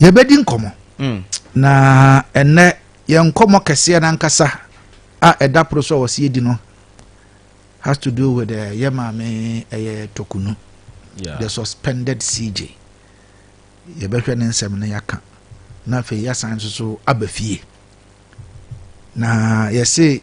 yɛbɛdi nkɔmmɔ mm. na ɛnɛ yɛn nkɔmmɔ kɛseɛ no ankasa a ɛda poro so a wɔsi adi no has to do with uh, yɛ maame ɛyɛ tokunu yeah. the suspended cj yɛbɛhwɛ ne nsɛm no yɛaka na afei yɛasan nso so aba fie na yɛse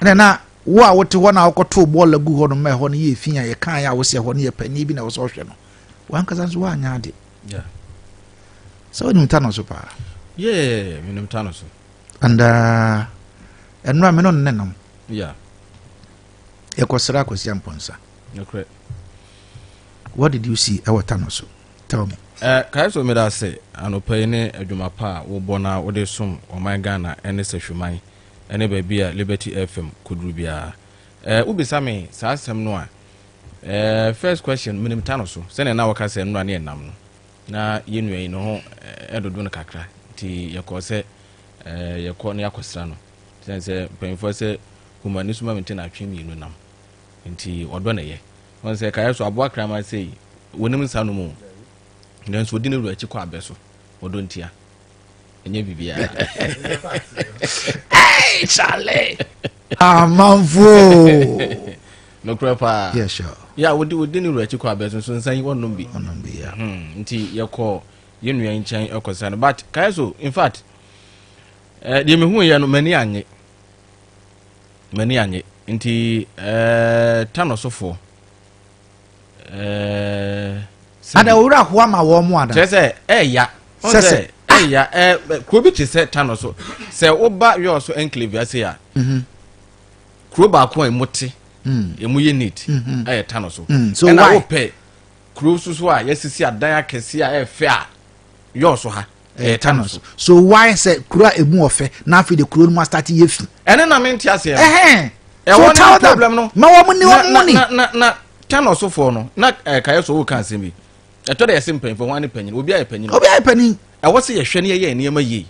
ɛna na wo a wote hɔ na wokɔtoo bɔɔl agu hɔ no ma ɛhɔ no yɛ fi a yɛkaeɛ a wosɛ hɔ no yɛ panyin bi na ɛwɔ sɛ ɔhwɛ no wankasa nso woanyɛ ade sɛ wonim ta no so paa yɛ menim ta no so and uh, ɛnora me no nnɛ nam yɛkɔsra akɔsia mpɔnsa what did you see ɛwɔ ta no so tell me eh, kae so meda ase anɔpa yi ne adwuma pa a wobɔ na wode som ɔman ghana ɛne sɛ hwuman ne baabi a Liberty FM kɔduru biara. Eh, wobisa me saa asɛm no a, eh, first question, menim ta no so, sɛnea na wɔka sɛ nnora ne ɛnam no. Na yɛn nua yi ne ho eh, ɛdodo no kakra, nti yɛkɔɔ sɛ eh, yɛkɔ na yɛakɔsra no. Sɛne sɛ mpanyimfoɔ sɛ humani so ma me nti na atwe mmienu nam, nti ɔdɔ na ɛyɛ. Wɔn sɛ kaeɛ so aboa kraman sei, wɔnim nsa no mu, nanso ɔdi ne wura akyi kɔ abɛ so, ɔdɔ ntia. ɛnyɛ biribiara chale amanfoɔ nokorɛ paa yeah, sure. yeah, wode wode ne wura akyi kɔ abɛso nso nsa yi wɔnom bi hmm, nti yɛkɔ yɛ nua nkyɛn ɛkɔsa no but kae so in fact eh, deɛ mehu yɛ no m'ani anye m'ani anye nti eh, tanɔsofoɔ Eh, ada owura ho ama wɔn mu ada. kyerɛ sɛ ɛɛya sɛsɛ ɛɛya ɛɛ kuro bi te sɛ tano so sɛ woba yɔɔ so enclave ase a mhm. kuro baako a emu te mm. emu yɛ neat mhm. ɛyɛ tano so mm. ɛna wopɛ kuro soso a yɛsisi adan akɛse a ɛɛfɛ a yɔɔ so ha. Ɛyɛ ta no so. So why sɛ kuro a emu ɔfɛ na afei de kuro no mu asate yɛ fi. Ɛne na mente aseɛ no. Ɛhɛn. So tell them ma wɔn ne wɔn mu ni. Na na na ta no so foɔ no na eh, kayɛ so wɔka asɛm bi. Ɛtɔ dɛ yɛsɛ mpanyinfoɔ ho ane panyin obi ayɛ panyin. Obi ayɛ panyin. Ɛwɔ sɛ yɛhwɛ ne yɛyɛ nneɛma yie.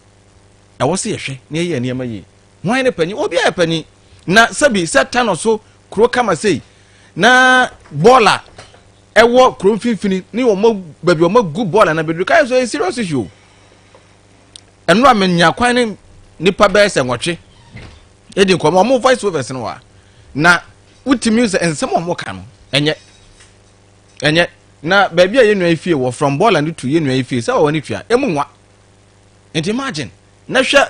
Ɛwɔ sɛ yɛhwɛ ne yɛyɛ nneɛma yie. Wɔn ne panyin obi ayɛ panyin. Na sɛbi sɛ ta no so kuro kama sei na bɔɔl a ɛwɔ kuro mfimfini ne wɔn baabi wɔn agu bɔɔl a n'abɛduru kaa so ɛyɛ serious issue o ɛno a menya kwan ne nipa bɛyɛ sɛ nwɔtwe ɛdi nkɔmɔ wɔn voice overs no wa na wotumi sɛ nsɛm a wɔn ka no ɛnyɛ ɛnyɛ na baabi a yɛn nua yi fie wɔ from bɔɔl a ne tu yɛn nua yi fie sɛ wɔn ani tua ɛmu nwa nti imagine na hwɛ.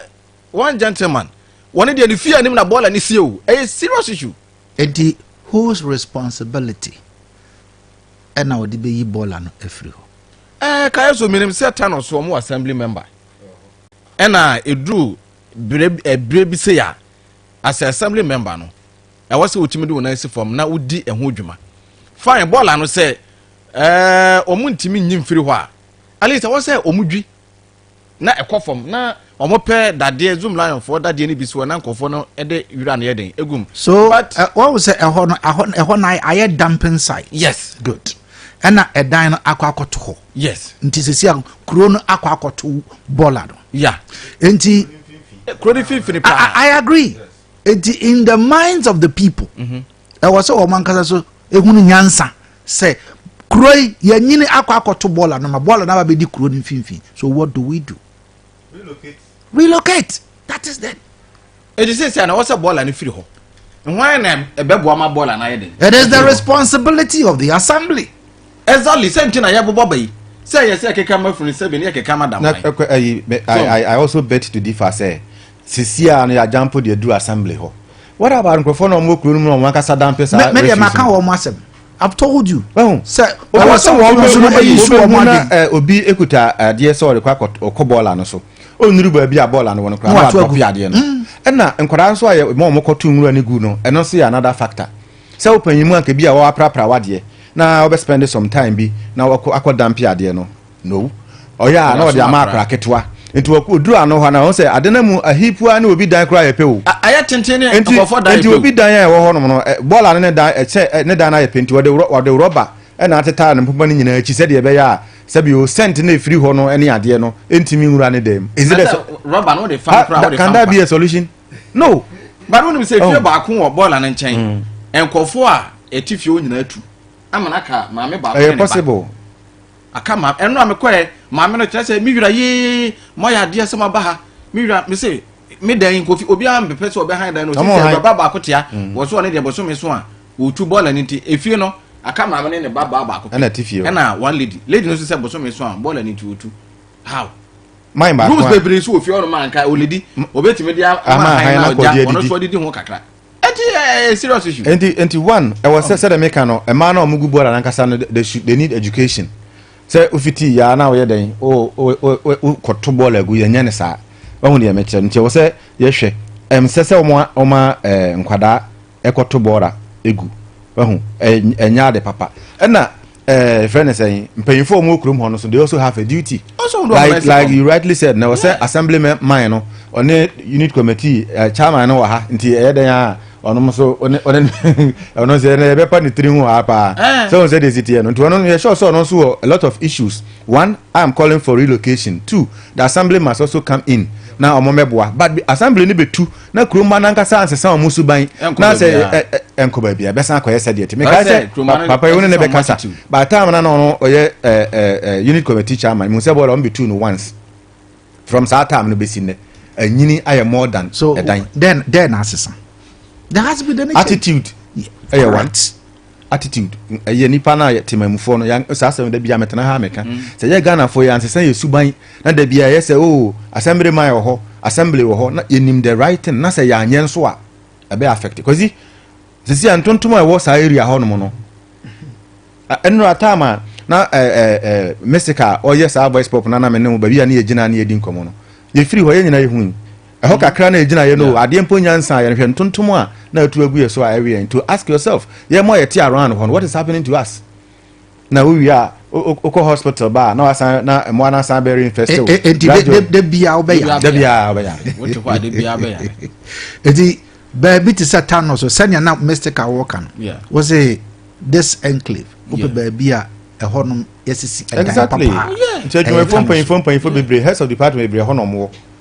one gentleman wɔ ne deɛ ne fie anim na boiler ne sie o ɛyɛ serious issue. Enti whose responsibility ɛna wɔde bɛyi boiler no afiri hɔ? Ɛɛ kaeɛ so menim sɛ Thanos wɔn wɔ assembly member ɛna ɛduru berɛ bi sei a as a assembly member no ɛwɔ sɛ wotumi de wɔn nan si fam na wodi ɛho dwuma fine boiler no sɛ ɛɛ wɔn ntumi nyi mfiri hɔ a at least ɛwɔ sɛ wɔn dwi. na ɛkɔ fam na wɔn pɛ dadeɛ zoom lion foɔ dadeɛ no bi so na nkurɔfoɔ no de wira no yɛ den egum. so wɔn eh, sɛ ɛhɔ no ɛhɔ ɛhɔ na ayɛ dumping site. yes good ɛna ɛdan no akɔ akɔto hɔ. yes nti sisi a kuro no akɔ akɔto bɔɔla no. ya nti. kuro no finfini paa. i agree nti in the minds of the people. Mm -hmm. ɛwɔ sɛ wɔn ankasa so ehunu nyansa sɛ kuro yi yɛnyini akɔ akɔto bɔɔla no ma bɔɔla no aba bɛdi kuro no mfimfini so what do we do relocate relocate that is them ɛdi sɛ sɛ na wɔsɛ bɔɔla no firi hɔ hwan na ɛbɛboa ma bɔɔla no ayɛ den it is the responsibility of the assembly exactly sɛ nti na yɛ bobɔ bɛyi sɛ yɛ sɛ keka ma funu sɛ bi ne yɛ keka ma dam na ɛkɔ ayi i i also bet to differ sɛ sisi a no yɛ agyampo deɛ duru assembly hɔ what about nkurɔfoɔ na wɔn wɔ kuro no mu na wɔn ankasa dampe saa mɛ deɛ maka wɔn asɛm I've told you. Well, sir, I was saying one person who is so amazing. Obi ekuta adeɛ sɛ ɔde kɔ ɔkɔ bɔɔla no so. Onuru baabi a bɔɔla no wɔ no koraa. Ɔwɔ atɔ fi adeɛ no. Ɛna nkwadaa nso a yɛ mɔ ɔmo kɔ tu nwura ne gu no. Ɛno nso yɛ another factor. Sɛ wo panyin mu anka bi a ɔaprapra w'adeɛ na ɔbɛ spend some time bi na wakɔ akɔ dampi adeɛ no no ɔyɛ a na ɔde ama akora ketewa nti ɔkɔ oduru ano hɔ na ɔn sɛ ade na mu ahi pua ne obi dan koraa yɛ pɛ o ayɛ tenten ne nkɔfɔ dan yɛ pɛ o nti obi dan a ɛwɔ hɔ nom no bɔɔla ne ne dan sɛ ne dan no ayɛ pɛ nti ɔde ɔde rɔba ɛna atetare ne mpoma no nyinaa akyi sɛdeɛ ɛbɛyɛ a sɛbi o sɛnt na ɛfiri hɔ no ne adeɛ no ɛntumi nwura ne dan mu ɛsi dɛ sɛ rɔba no wode fa kora wode fa kanda bi yɛ solution no bari wonim sɛ fie oh. baako wɔ bɔɔla no nkyɛn mm. nkɔfoɔ a ɛte fie nyinaa atu ama no aka maame baako ne ne ba aka maame ɛno a mekɔɛ maame no kyerɛ sɛ me wura yee moayɛ adeɛ sɛ moaba ha me wura me se me dan nkofi obiara mpepɛ sɛ ɔbɛhan dan no ɔsi sɛ baba baako tea mm. wɔ so ɔne deɛ bɔsome so a ɔtu bɔɔla no nti efie no aka maame ne ne ba baa baako ɛna one lady lady no nso sɛ bɔsome so a bɔɔla no nti ɔtu how man baako rules bebree nso wɔ fie ɔnom anka ɔledi ɔbɛtumi de ama han na ɔgya ɔno nso ɔdedi ho kakra ɛti ɛɛ serious issue. nti nti one ɛwɔ sɛ sɛ dɛm kan no mmaa na wɔn gu bɔɔla nankasa no they should they need education sɛ ofiti yaa na ɔyɛ dɛn o o o kɔto bɔɔla gu yɛn nyɛ ne saa wɔn deɛ mɛkyerɛ nti ɛwɔ sɛ yɛhwɛ ɛm sɛ sɛ wɔn wɔn ɛɛ nkwadaa ɛkɔto bɔɔla egu wɔn ɛnyɛ ade papa ɛna. ɛɛ eh, fɛn ne sɛn mpanyinfo a wɔn kurom hɔ no so they also have a duty like like you rightly said na wɔsɛ assembly man no ɔne unit committee ɛɛ eh, chairman no wɔ ha nti ɛyɛ dɛn a ɔno nso ɔne ɔne ɔno nso ɛna ɛbɛpa ne tiri ho ha paa sɛ wɔn sɛ de si teɛ no nti ɔno yɛ sure sɛ ɔno nso wɔ a lot of issues one i am calling for relocation two the assembly must also come in na wɔn mɛboa but assembly no bɛ tu na kurom ma nankasa ansesa wɔn suban na sɛ ɛnkɔ baabi a ɛbɛsan akɔyɛ sɛdeɛ te mekae sɛ papa yi wo ne ne bɛkasa baatam na na ɔno ɔyɛ unit committee chairman mu sɛ bɔɔla ɔmbɛtu no once from saa tam no bɛsi nnɛ anyini ayɛ more than ɛdan dɛn na asesa there has been an attitude ɛyɛ one attitude ɛyɛ nipa no a yɛ temanmufoɔ no yɛ saa asɛm da bi a mɛtena ha mɛka mm. sɛ yɛ ghanafoɔ yɛ ansesa yɛ suban na da bi a yɛ sɛ o oh, assembly man wɔ hɔ assembly wɔ hɔ na yɛnim the right thing na sɛ yɛanyɛ nso a ɛbɛ affect kwasi sisi a ntontom a ɛwɔ saa area hɔ nom no ɛnura taama a na ɛɛ ɛɛ mystic a ɔyɛ saa voice pop na na mɛ ne ho baabi a ne yɛ gyina ne yɛ di nkɔmɔ no yɛfiri hɔ yɛ nyinaa yɛ hu yi. ɛhɔ kakra na egyina yɛ no adeɛ mpo nyansa a yɛhwɛ ntontom a na atu agu yɛ so a ɛwe yɛn to ask yourself yɛn mo a yɛte around hɔ no what is happening to us na wowie a wokɔ hospital ba a na wasan na mmoa no asan bɛ reinfest wo enti da biara wobɛyare da biara wobɛyare wote hɔ a da biara bɛyare enti baabi te sɛ tano so sɛnea na mystic a wɔka no wo se this enclave wopɛ baabi a ɛhɔ nom yɛsisi ɛdan papa nti adwumayɛfoɔ mpanyimfoɔ mpanyimfoɔ bebree heads of department bebree ɛhɔ nom wɔ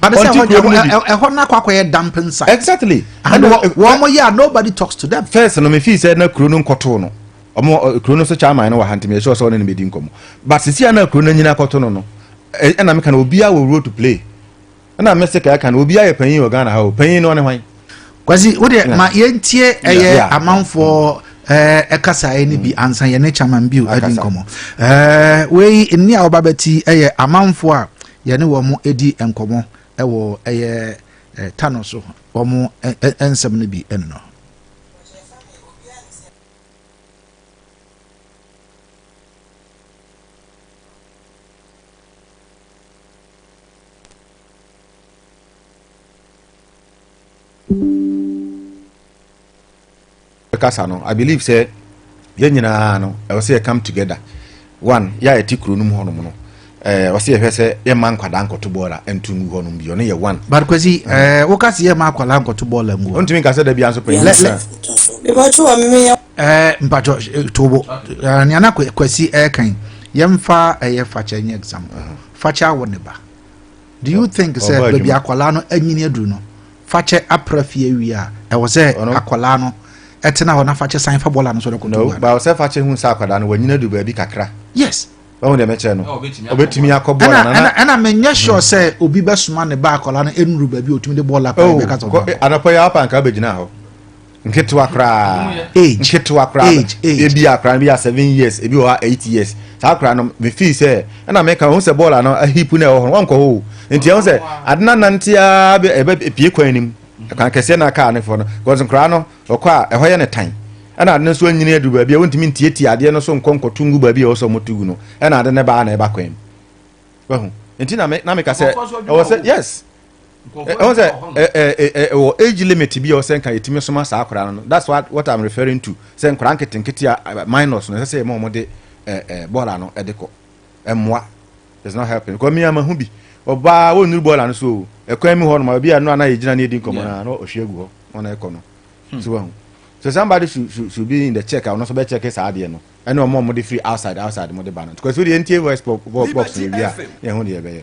But say hɔ deɛ ɛhɔ na akɔ akɔyɛ dumping site. Exactly. And wɔn mo yɛ a nobody talks to them. First no me fi sɛ na kuro no nkɔto no. Ɔmo kuro no so chairman no wɔ ha ntumi ɛhyɛ ɔsɛ ɔne ne bedi nkɔmɔ. But sisi a na kuro no nyina akɔto no no ɛna meka na obiara wɔ role to play. Ɛna me se ka ɛka no obiara yɛ panyin wɔ Ghana ha o panyin no ɔne hwan. Kwasi wo deɛ ma yɛntie ɛyɛ amanfoɔ ɛɛ ɛkasa ɛyɛ ne bi mm. ansa yɛne chairman bi o ɛdi nkɔmɔ. Ɛɛ wei nni a ɔba bɛti ɛyɛ amanfoɔ a. Yɛne wɔn di nkɔmmɔ wɔ ɛyɛ Tano so, wɔn nsɛm no bi no. kasa no i believe sɛ yɛn nyinaa no ɛwɔ sɛ yɛ come together one yɛ a yɛte kuro no mu hɔnom no ɛɛ eh, ɔsɛ yɛhwɛ sɛ yɛma nkwadaa nkɔto bɔɔla nto ngu hɔnom bi ɔno yɛ one. but kwasi ɛɛ eh, eh, woka sɛ yɛma akwadaa nkɔto bɔɔla ngu hɔ. ntumi nkasa da bi anso pɛn. lɛ lɛ ɛɛ mpatwɔ tobo ɛɛ nea na kwasi ɛɛkan yɛmfa ɛyɛ fakyɛ nyɛ example uh-huh. fakyɛ awɔ ne ba. Do you think sɛ baabi akwadaa no anyini aduru no fakyɛ apra fie awie a ɛwɔ sɛ akwadaa no ɛtena hɔ na fakyɛ san fa bɔɔla no so dɛkoto no ba sɛ fakyɛ hu sɛ akwadaa no wanyini adu baabi kakra yes wɔn deɛ mɛkyerɛ no obetumi akɔ bɔɔla na na ɛna menyɛ sure hmm. sɛ obi bɛsoma ne ba akwadaa no enuru baabi otumi de bɔɔla akwadaa oh, bɛka sɔn anapɔ yɛ apa nka bɛgyina hɔ nketewa koraa age nketewa koraa age age ebi akora no bi a seven years ebi wɔ ha eight years saa akora no me feel sɛ ɛna me ka wɔn sɛ bɔɔla no ahip na ɛwɔ hɔ wɔn nkɔ hɔ o nti ɛwɔ sɛ ade na nante aa bɛ ɛbɛ pie kwan nim kwan kɛseɛ na kaa ne fɔ no because nkora no ɔkɔ a ɛhɔ yɛ ne tan ɛna ade no nso anyini aduru baabi a wɔntumi ntietie adeɛ no so nkɔ nkɔto ngu baabi a ɛwɔ sɛ wɔn tugu no ɛna ade no baa na ɛba kwan mu wahu nti na me na me ka sɛ ɛwɔ sɛ yes. ɛwɔ sɛ ɛwɔ age limit bi a ɔsɛ nka yɛtumi soma saa akwadaa no that's what what i'm referring to sɛ nkwadaa nketenkete a minors no ɛsɛ sɛ yɛma wɔn de bɔɔla no ɛde kɔ ɛmoa it's not helping because mi ama ho bi ɔbaa wɔnnuru bɔɔla no so o ɛkwan mu hɔ nom ebi a no ana yɛgyina ne edi nkɔmɔ na na ɔhwe agu hɔ ɔna ɛkɔ no hmm. so wɔn so somebody should should should be in the check a ɔno nso bɛ check saa adeɛ no ɛna wɔn a wɔn de free outside outside wɔn de ba no because o de yɛn tie voice box no ewia yɛn ho de yɛ bɛyɛ.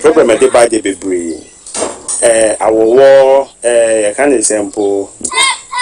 Program a ɛde ba deɛ bebree ɛɛ awɔwɔɔ ɛɛ yɛka ne sɛ mpo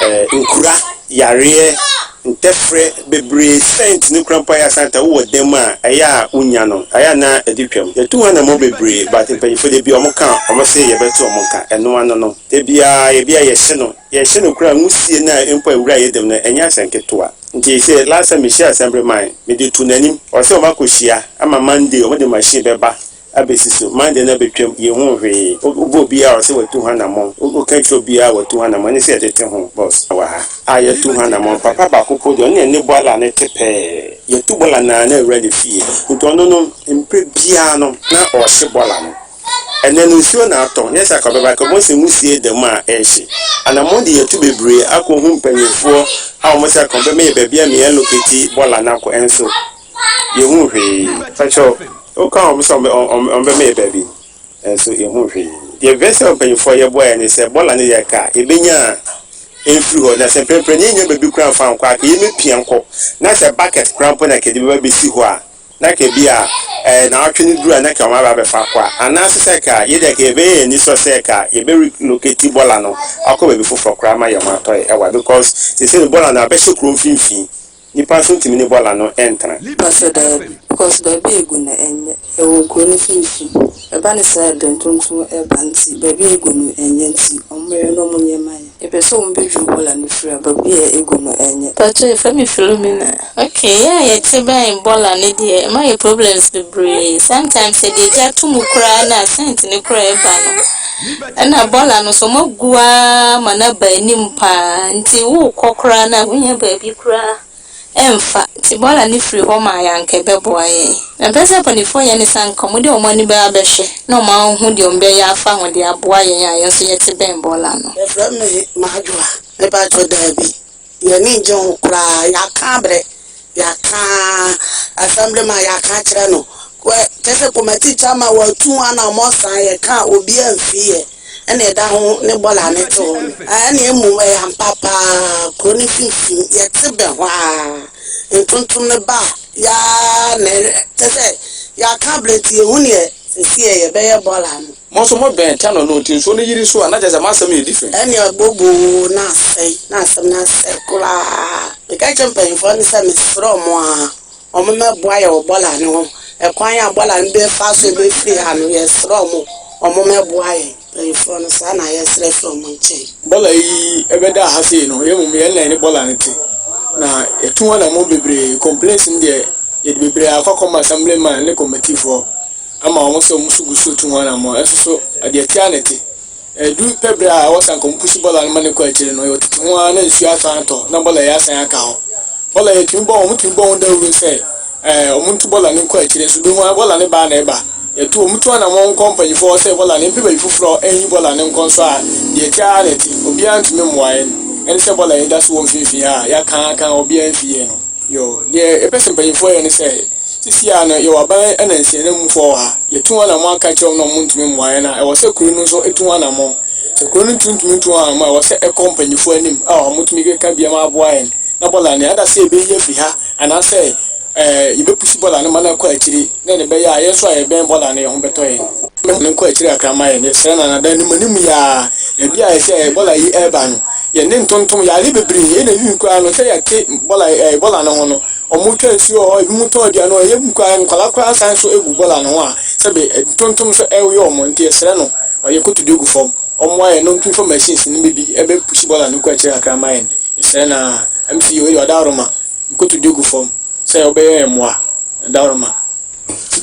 ɛɛ nkura yareɛ ntɛfrɛ bebree sɛnt ne kura mpo ayɛ asanta wowɔ dɛm a ɛyɛ a wonya no ayɛ na ɛde twam yɛtu ho anamɔ bebree but mpanyinfoɔ deɛ bia wɔn ka wɔn se yɛbɛto wɔn ka ɛno ano no da biaa yɛbia yɛhye no Yɛhyɛ no nkuran, wusie no a mpo a wura yɛ dam no, ɛnyɛ asɛm ketewa. Nti sɛ last time mehyiaa Assembly man, mede too n'anim, ɔse wɔn akɔ hyia, ama Monday wɔde machine bɛba abɛsi so, Monday no abɛtwam, yɛnhuu hwee. Wobɔ obiara a ɔse watu ho anamɔn, woka kyerɛ obiara a watu ho anamɔn, ɛne sɛ yɛde te ho, boss, wɔ ha, a yɛatu ho anamɔn, papa baako mpo deɛ, ɔno na ɛne bɔɔla no te pɛɛ, yɛtu bɔɔla no ara na awura ne fie, nti ɔno no, mprɛ biara no, na ɔhye bɔɔla no. Ɛnnɛ no, nsuo na atɔ, nyɛ sɛ anka ɔbɛba. Anka Mose nwisie da mu a ɛrehye. Anammɔn de yɛatu bebree akɔhu mpanimfoɔ a wɔse anka wɔbɛma yɛn baabi a Mia Lokiti bɔ la no akɔ, nso yɛhuu hwee. Pakyɛ o, wokaa wɔn sɛ wɔbɛma yɛn baabi, nso yɛhuu hwee. Deɛ Vets Air mpanimfoɔ a yɛboa yɛn ne sɛ, bɔ la no yɛ ka a, yɛbɛnya a ɛmfiri hɔ. Na sɛ mprɛmprɛ no yɛnnya baabi koraa mfa nkɔ a, anka yɛbɛpia nkɔ. Na sɛ bucket koraa mpo na anka yɛde bɛba abɛsi hɔ a, na ka bi a ɛɛ naawɔtwe no duru a na ka wɔn aba abɛfa akɔ a, anaase sɛ ka yɛ deɛ ka yɛbɛyɛ yɛn anisɔ sɛ ka yɛbɛ relocate bɔla no akɔ baabi foforɔ koraa ma yɛn ho atɔ yɛ ɛwa because seisei no bɔla no abɛhyɛ kuro mfimfini nnipa nso ntumi ne bɔla no ntena. Mɛ sɛ daabi because baabi a egu no ɛnyɛ. Ɛwɔ kuro no mfimfini ɛba no saa a ɛdɛ ntontom ɛba nti baabi a egu no ɛnyɛ nti wɔn mɛyɛ no wɔn nneɛma yɛ. Yɛpɛ sɛ ɔmo bɛdwiri bɔla no firi a, baabi a egu no ɛnyɛ. Mpakyɛw yɛfrɛ me Philomena. Ok yɛ a yɛte bɛn bɔla no deɛ ɛma yɛ problems bebree sometimes yɛde agya to mu koraa na scent no koraa ɛba no ɛna bɔla no nso ɔmo agu ara ma no aba anim paa nti wookɔ koraa no a wonnya baabi koraa Ɛmfa, nti bɔɔla no firi hɔ maa yɛ anka ɛbɛboa yɛn. Na mepɛ sɛ mpanifoɔ yɛ ne sɛ anka wɔn de wɔn ani bɛba abɛhwɛ na wɔn ahu deɛ wɔn bɛyɛ afa ho de aboa yɛn a yɛn nso yɛte bɛn bɔɔla no. Yɛfrɛ me Madwoa. Me paatwo daabi. Y'ani ngye ho koraa. Y'aka abrɛ. Y'aka Assemblyman y'aka akyerɛ no. Kyerɛ sɛ committee chairman w'atu ho ana wɔn san yɛ ka a obiara nfii yɛ. na ɛda ho ne bɔɔl a mete hɔ no. Ae, na mmom ɛyɛ ampa paa kurow no mfimfini. Yɛte bɛ hɔ ara, ntontom no ba a, yɛara na ɛkyɛ sɛ yɛaka abrɛ nti yenhu nea seesei yɛbɛyɛ bɔɔl ano. Mo nso mobɛn Channel no nti nsuo no yiri so a, na kyerɛ sɛ m'asɛm yɛ different. Ɛnne ɛboboo, na asɛe, na asɛm no asɛe koraa. Meka kyerɛɛ mpanyimfoɔ no sɛ mesrɛ wɔn ara. Wɔn mɛ boa yɛ wɔ bɔla no ho ɛkwan a bɔla no bɛ fa so bɛ firi ha no yɛ srɛ wɔn wɔn mɛ boa yɛ mpanyinfoɔ no saa na yɛ srɛ firi wɔn nkyɛn. Bɔla yi ɛbɛ da ha sei no yɛ mmom yɛ nnan ne bɔla no te na yɛ tu ho anamɔ bebree complaints no deɛ yɛ de bebree akɔ akɔ ma assembly man ne committee foɔ ama wɔn sɛ wɔn nso gu so tu ho anamɔ ɛnso so deɛ ɛte a na ɛte. Ɛdu pɛ berɛ a ɛwɔ sɛ anka wɔpusu bɔɔla no ma no kɔ akyire no, ɛwɔ tete ho ara na nsuo asan atɔ na bɔɔla yi asan aka hɔ. Bɔɔla yi yɛtumi bɔ ho, wɔtumi bɔ ho dawuro sɛ ɛɛ wɔntu bɔɔla no nkɔ akyire nso. Wobɛhu ara bɔɔla no baa na ɛba. Yɛtu wɔtu anammɔn kɔ mpanyinfoɔ hɔ sɛ bɔɔla no yɛmpɛ baabi foforɔ nyi bɔɔla no nkɔ nso a, deɛ ɛte ara na ɛte. Obiara ntumi mmoa yɛn. Ɛne sɛ bɔɔla yi da so wɔ mfimfini ha a, yɛaka ara aka ara obiara mfi yɛn ho. Yoo, deɛ yɛpɛ sɛ mpanyinfoɔ yɛ ne sɛ, Sisi ara no, yɛwɔ aban na nsiananmufo wɔ ha. Yetu wɔn anammɔn aka akyerɛ wɔn na wɔrentumi mmoa yɛn a, ɛwɔ sɛ kurow no nso tu ho anammɔn. Sɛ kurow no ntumi ntu ho anammɔn a, ɛwɔ sɛ ɛkɔ mpanyimfo anim a wɔatumi keka bi ama wɔaboa yɛn na bɔɔla no ada sɛ yebeyi afi ha anaasɛ yebepusi bɔɔla no ma no akɔ akyiri na ɛne ɛbɛyɛ a yɛn nso a yɛbɛn bɔɔla no ho bɛtɔ yɛn. Momma no nkɔ akyiri kakra mma yɛn. Yɛsrɛ no anadwo anim anim yi ara. Baabi a sɛ bɔɔla yi reba no, yɛn nne ntontom. Yɛare bebree. Ɛnna ewiei koraa no, sɛ yɛte bɔɔla no ho no, Ɔmo twa nsuo wɔ hɔ, ebi mo tɔn aduane hɔ, ebi koraa nkwadaa koraa san so gu bɔɔl ano hɔ a sɛbi ntontom so ɛyɛ ɔmo nti yɛsrɛ no ɔyɛ kotodwe gu fam ɔmmoa yɛn na ɔntu nfa machines no mu bi ɛbɛ pushi bɔɔl ano kɔ akyire kakra mma yɛn yɛsrɛ no aa MC wei deɛ ɔdawroma nkotodwe gu fam sɛ ɔbɛyɛ yɛn mmoa ɔdawroma.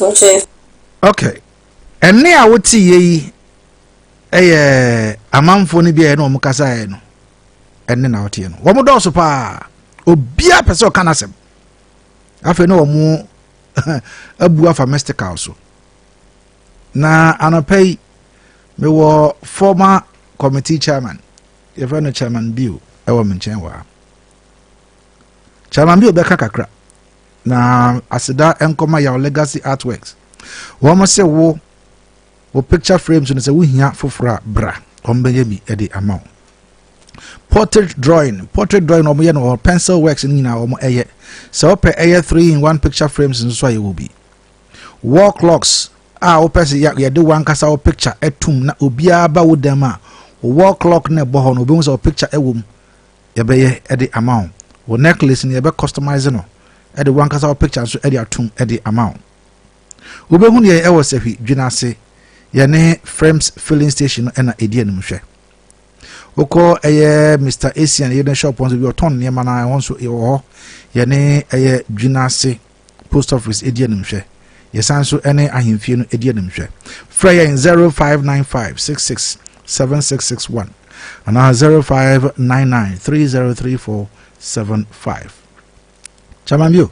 Okay. Okay. Ɛnne a woteeɛ yi yɛ amanfoɔ no bi a ɛne wɔn kasaeɛ no. ɛne na ɔteɛ no wɔn dɔɔso paa obiara pɛ sɛ ɔka n'asɛm afei na wɔn abu afa mystical so na anɔpɛ yi mewɔ former committee chairman yɛfrɛ no chairman bio ɛwɔ me nkyɛn wɔ ha chairman bio bɛka kakra na aseda nkɔma yaw legacy artworks wɔn se wo Wo picture frame so no sɛ wohia foforɔ a bra wɔmbɛyɛ bi de ama wo portrait drawing portrait drawing wɔn yɛ no wɔ pencil works no nyinaa wɔn ɛyɛ sɛ wɔpɛ ɛyɛ three in one picture frames nso a yɛwɔ bi wall clocks a wɔpɛ sɛ yɛde wankasa wɔ picture ɛtum na obiara ba wo dan mu a wall clock na ɛbɔ hɔ no obi ho sɛ wɔ picture ɛwɔ mu yɛbɛyɛ ɛde ama wo wɔ necklace no yɛbɛ customize no ɛde wankasa wɔ picture nso ɛde atum ɛde ama wo. Wobɛhunu yɛn ɛwɔ Sahwi dwena ase, yɛne Frems filling station no ɛna ɛdi anim hwɛ. Wokɔ ɛyɛ Mr. Asian yɛne shop nso bi ɔtɔn nneɛma no ɛhɔ nso ɛwɔ hɔ, yɛne ɛyɛ dwena ase post office ɛdi anim hwɛ. Yɛsan nso ɛne ahemfie no ɛdi anim hwɛ. Frɛ yɛn 0595 66 7661 anaa 0599 303475. Chairman Bio.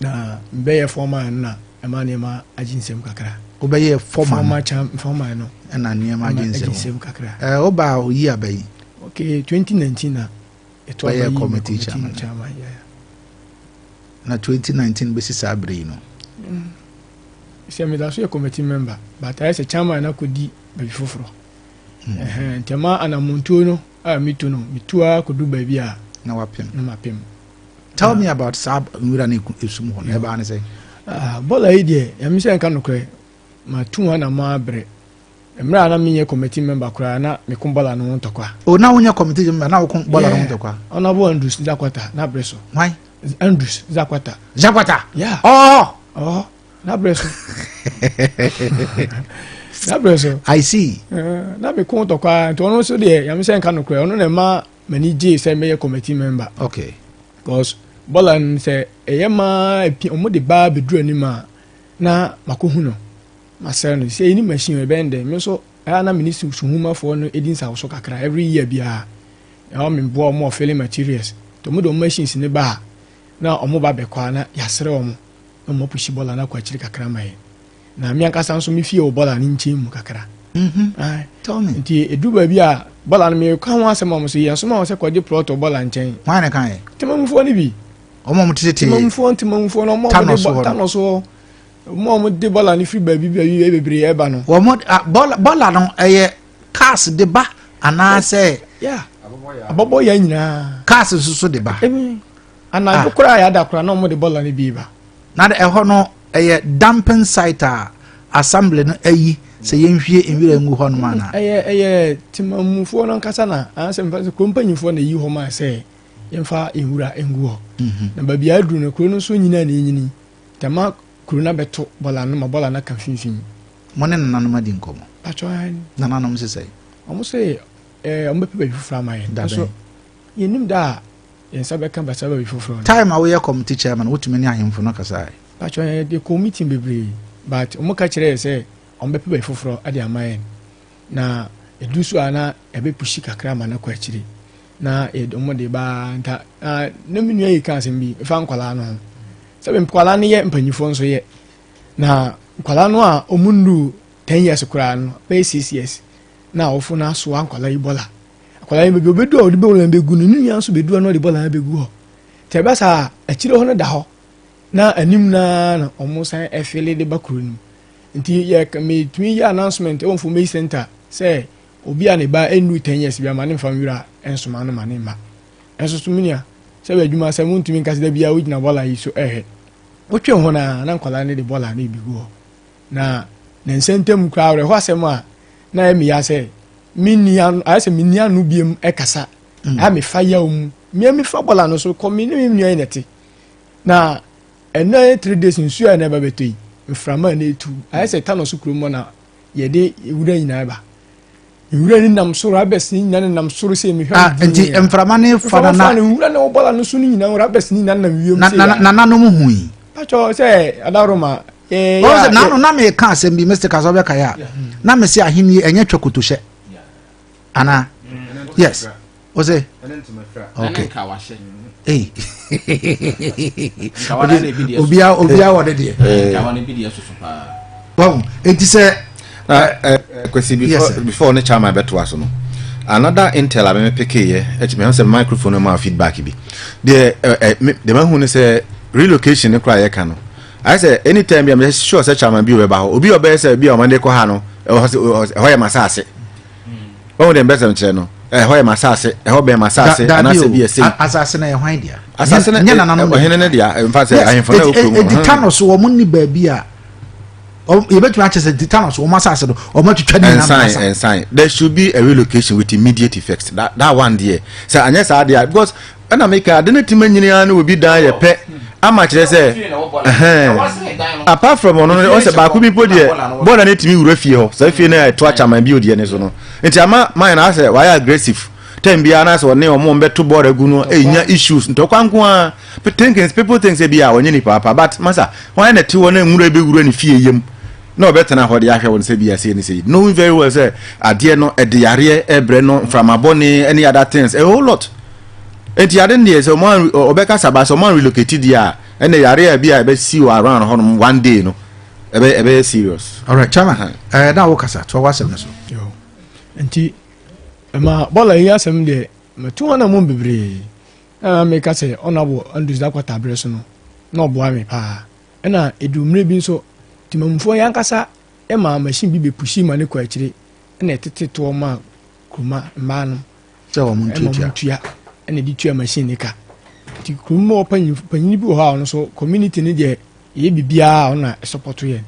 Na mbɛyɛ fɔma na ɛma nneɛma agye nsɛm kakra. Wobɛyɛ fɔma no. Fɔma kyam fɔma no. Ɛna nneɛma agye nsɛm. Agye nsɛm kakra. Ɛɛ eh, woba a oyi aba yi. Okay, 2019 na ɛtɔ aba yi. Bɛyɛ committee chairman. Chairman, yeah. Na 2019 bɛsi saa bere yi no. Mm. Sɛ meda so yɛ committee member, but ayɛ sɛ chairman na kɔdi baabi foforɔ. Mm. Ntɛma anamontuo no a metu no, metu a kɔdu baabi a. Na wapem. Na mapem. tell me about saa nwura ne esum hɔ no ɛbaa ne sɛ ah, bɔla yi deɛ ɛmi sɛ nka nokorɛ matu ho na ma abrɛ mmerɛ a na menyɛ committee member koraa na meko bɔla no ho ntɔkwa o oh, na wonyɛ committee member na woko bɔla no ho ntɔkwa ɔnabo andrews zakwata na berɛ so why andrews zakwata zakwata yeah ɔhɔ ɔhɔ na berɛ so na berɛ so i see eh, na meko ntɔkwa nti ɔno nso deɛ yame sɛ nka nokorɛ ɔno na ɛma m'ani gyee sɛ mɛyɛ committee member okay because bɔla no sɛ ɛyɛ maa epi wɔn de baa beduru anim a na mako hu no masɛre no sɛ ɛni machine ɛbɛn dɛ me nso ɛyɛ na mene suhumafoɔ no ɛdi nsawoso kakra every year biara ɛwɔ meboa wɔn wɔ filling materials to wɔn de wɔn machines ne ba a na wɔn ba bɛkɔ a na yɛasrɛ wɔn na wɔn apusi bɔla no akɔ akyiri kakra ma yɛn na me ankasa nso me fie wɔ bɔla ne nkyɛn mu kakra mm-hmm. nti ɛduru baabi a bɔla no meka ho asɛm a mo so yɛn soma wɔ sɛ kɔgye plɔt wɔ bɔla nkyɛn hwan na kaeɛ temamufoɔ no bi ɔmo ɔmo tete temamufoɔ ntemamufoɔ no ɔmo ɔmo de tanɔ so hɔ ɔmo ɔmo de bɔla no firi baabi baabi baabi bebree ɛba no wɔn bɔla bɔla no ɛyɛ cars de ba anaasɛ abɔbɔ yɛ nyinaa cars nso so de ba Anadwo ah. koraa yɛ ada koraa na wɔn de bɔlɔ no bi ba. Na ɛhɔ no ɛyɛ dumping site a assembly no ayi sɛ yɛnhwie nwira ngu hɔ nom ana. ɛyɛ ɛyɛ temamufoɔ no ankasa na anasɛ mfa sɛ kurom mpanyinfoɔ na eyi hɔ maa sɛ yɛmfa nwura ngu hɔ. Mhm. na baabi a aduru no kuro no nso nyinaa na enyini tɛma kuro no abɛto bɔlɔ no ma bɔlɔ no aka finfin. mo ne nananom adi nkɔmɔ. atwa ani. nananom sisɛ. wɔn sɛ ɛɛ wɔn bɛpɛ baabi foforɔ ama yɛn. dabe nso yɛnim da a Yɛn nsa bɛka Batsaba bi foforɔ no. Time a woyɛ committee chairman no wotumi ne ahemfo no kasae? Patro yɛn de kɔ meeting bebree but wɔn ka kyerɛ yɛ sɛ wɔn bɛpɛ baabi foforɔ de ama yɛn na edu so a na ɛbɛ pushi kakra ma no kɔ akyire na yɛde wɔn de ba nta na na me nua yi ka asɛm bi fa nkwadaa no ho sɛ nkwadaa no yɛ mpanimfoɔ nso yɛ na nkwadaa no a wɔn ndu ten years koraa no bɛyɛ six years na awofo no asoa nkwadaa yi bɔla. Akwadaa no bɛdu hɔ, bɛdu a ɔde bɔɔla no bɛgu no, ne nua nso bɛdu hɔ na ɔde bɔɔla no bɛgu hɔ. Nti ɛba saa a, akyire hɔ no da hɔ, na anim no ara na wɔn san ɛfele de ba kuro no mu. Nti yɛ metumi yɛ announcement wɔ Mfomei Center sɛ obi a ne ba ɛnuru 10 years bi ama ne mfa nwura nsoma no ma ne mma. Ɛnso so menua, sɛ bɛ adwuma sɛ montumi nka sɛ da biara wogyina bɔɔla yi so ɛhwɛ. Wotwe ho no a, na nkwadaa no de bɔɔla no ɛbi gu hɔ. Na ne nsa ntam koraa awerɛhoɔ asɛm a na ɛyɛ meya sɛ menni ano ayɛ sɛ menni ano biam ɛkasa mm. a mefa yaw mu mmea mefa bɔla no so kɔ me ne me nua na ɛte na ɛnɛ three days nsuo a ɛna ɛba bɛtɔ yi mframa na etu ayɛ sɛ tano so kurom na yɛde wura nyinaa ba nwura ni nam so rabɛs ni nyina nenam soro sɛ mehwɛ ah, nti mframa ne fa na na nwura ne wobɔla no so no nyina rabɛs ni nyina nenam wiem sɛ na nananom hui patɔ sɛ adaroma ɔwɔ sɛ nano na meka asɛm bi mr kasɛ wobɛkae a na mese ahenni ɛnyɛ twa kotohyɛ anaa yes ɔsɛ okay ei obia obia wɔ ne deɛ wahu enti sɛ kwasi before before ne chairman bɛto aso no another intel a mɛmɛ pekeyɛ ɛkyɛ mɛhu sɛ microphone no ma feedback bi deɛ ɛɛ deɛ mɛhu ne sɛ relocation ne koraa yɛka no ayɛ sɛ anytime bi a mɛ sure sɛ chairman bi wɔ bɛba hɔ obi ɔbɛyɛ sɛ bi a ɔmo de kɔ ha no ɛhɔ yɛ ma saase. ɔhu dɛ mbɛsɛm kyerɛ no ɛhɔ yɛ m'asaase ɛhɔ bɛn m'asaase anaasɛ bi yɛ sei asaase no yɛ hwan dea asaase no nyɛ nananom ɔhene no dea mfa sɛ ahemfo no ɛwɔ kurom ɛdi tano so wɔn nni baabi a yɛbɛtumi akyɛ sɛ di tano so wɔn asaase no wɔn atwitwa ne nyinaa ɛnsan ɛnsan there should be a relocation with immediate effect that that one deɛ sɛ anyɛ saa deɛ because ɛna meka ade no tumi nyini ara ne obi dan yɛ pɛ ama kyerɛ sɛ ɛhɛn apart from ɔno no ɔsɛ baako bi mpo deɛ bɔɔla no tumi wura fie hɔ saa fie no ɛto akyaman bi odiɛ ne so no nti ama mayɛ no asɛ wayɛ aggressive tɛn biara na sɛ ɔne ɔmo mbɛto bɔɔla gu no ɛnya issues ntɔkwa nko ara thinking people think sɛ bi a ɔnyɛ nipa apa but masa wɔn ayɛ na ɛte hɔ na nwura bɛwura ne fie yam na ɔbɛtena hɔ de ahwɛ wɔn sɛ bia sei ne sei, knowing very well sɛ adeɛ no ɛde yareɛ ɛbrɛ no, mframa bɔne, any other things, a whole lot. Enti ade no deɛ sɛ ɔmo ɔbɛka saba sɛ ɔmo relocate deɛ a, ɛnna yareɛ a bi a ɛbɛsi wɔ around hɔ nom one day no, ɛbɛ ɛbɛyɛ serious. Alright, Chama, ɛɛ uh-huh. eh, na wokasa, toa w'asɛm no so. Yo, nti, ɛma bɔla yi asɛm deɛ, matu hɔ na mu bebree, na meka sɛ ɔnabɔ Andrews Dakwata berɛ so no, na ɔboa me paa. Ɛnna eduu mmere bi nso, temamufo yi ankasa maa machine bi bepushii ma no kɔɔ akyiri na ɛtetee toɔ maa kuruma mmaa no sɛ wɔn ntua na de tua machine no ka. Nti kuruma wɔ panyin bi wɔ hɔ a ɔno nso community no deɛ ɛyɛ biribiara a ɔno na ɛsɔpɔto yɛn.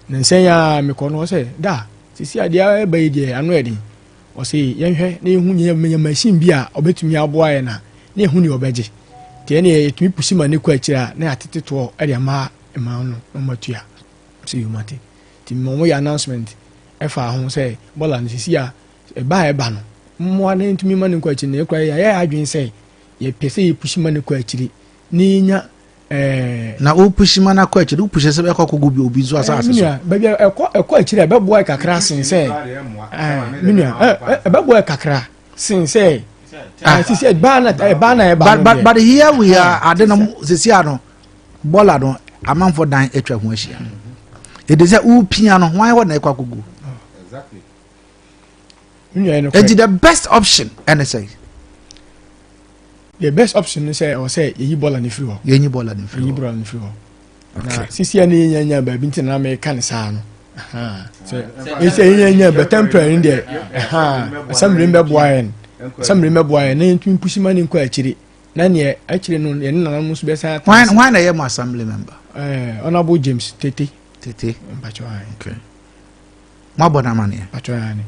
Na nsɛn a mekɔ no sɛ da sisi adeɛ ɛba yi deɛ ano yɛ den. Ɔse yɛnhwɛ na yɛhu nea yɛbɛnya machine bi a ɔbɛtumi aboa yɛn a na yɛhu nea ɔbɛgye. Nti ɛneɛ yɛtumi pusi ma no kɔ akyiri a na yɛatete toɔ de ama mmaa no na wɔatua. Sɛ yɛ mate. Nti mema wɔyɛ announcement ɛfa ho sɛ bɔla no sisi a ɛba a ɛba no mmoa na yɛntumi ma no nkɔ akyiri na yɛkora yɛayɛ adwene sɛ yɛpɛ sɛ yɛpusi ma no kɔ akyiri na yɛnya Ɛɛ. Na wo pushi ma no akɔ akyiri, wo pushi sɛ bɛkɔ akɔgu bi obi nso asase so. Menua, baabi a ɛkɔ ɛkɔ akyiri a ɛbɛboa yɛ kakra sen sɛ ɛɛ menua ɛbɛboa yɛ kakra sen sɛ ɛɛ sisi ɛbaa na ɛbaa na ɛbaa no deɛ. But here we are ade no sisi ano bɔla no amanfo dan atwa ho ahyia. Ede sɛ wopia no hwan hɔ na ɛkɔ akɔgu. ɛnti the best option ɛne sɛ the best option ne sɛ ɛwɔ sɛ yɛyi bɔɔla no firi hɔ yɛnyi bɔɔla no firi hɔ yɛyi bɔɔla no firi hɔ na sisi a ne yɛnya nya baabi nti na meka ne saa no ɛsɛ yɛnya nya bɛ temporary no deɛ asɛmmere no bɛboa yɛn asɛmmere no bɛboa yɛn na yɛntumi pusi ma ne nkɔ akyiri na neɛ akyire no yɛne nana mu so bɛsan hwan na ɛyɛ mo assembly member eh, honorable james tete tete mpakyɛ okay Moabɔ no amanneɛ? Atwerɛ aane.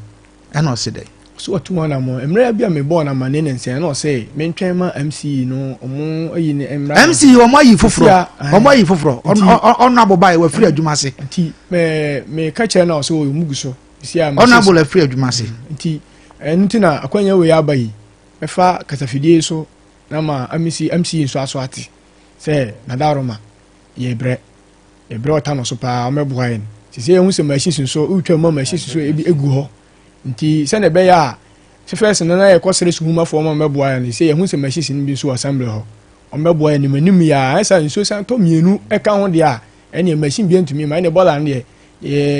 Ɛna ɔse dɛn? Ɔse watu ho anammɔn. Mmerɛ bi a mebɔɔ no amanneɛ ne nsɛ, ɛna ɔse mentwɛn ma MCE no ɔmo ayi ne mmra no. MCE ɔmo ayi foforɔ. Asia, Ɔmo ayi foforɔ. Ɔno abobaeɛ wafiri adwuma ase. Nti me meka kyerɛ no a ɔse ɔyɛ ɔmo gu so. Sia message. Ɔno abola afiri adwuma ase. Nti ɛno nti na akwanya wei aba yi. Mɛfa kasafidie so na ma MCE nso aso ate sɛ Nadaroma yɛbrɛ. Ɛberɛ a ɔtaa no so paa ɔmɛboa yɛn sɛ sɛ yɛhu sɛ machine si so wotwa mu a machine si so ebi egu hɔ nti sɛnea ɛbɛyɛ a sɛ fɛs no na yɛkɔ srɛ suhumafoɔ ma ɔmɛboa yɛn sɛ yɛhu sɛ machine si no bi nso wɔ assembly hɔ ɔmɛboa yɛn nimanim yɛ a ɛsa nsuo san tɔ mmienu ɛka ho deɛ a ɛneɛ machine bi ntumi ma ɛneɛ bɔla no deɛ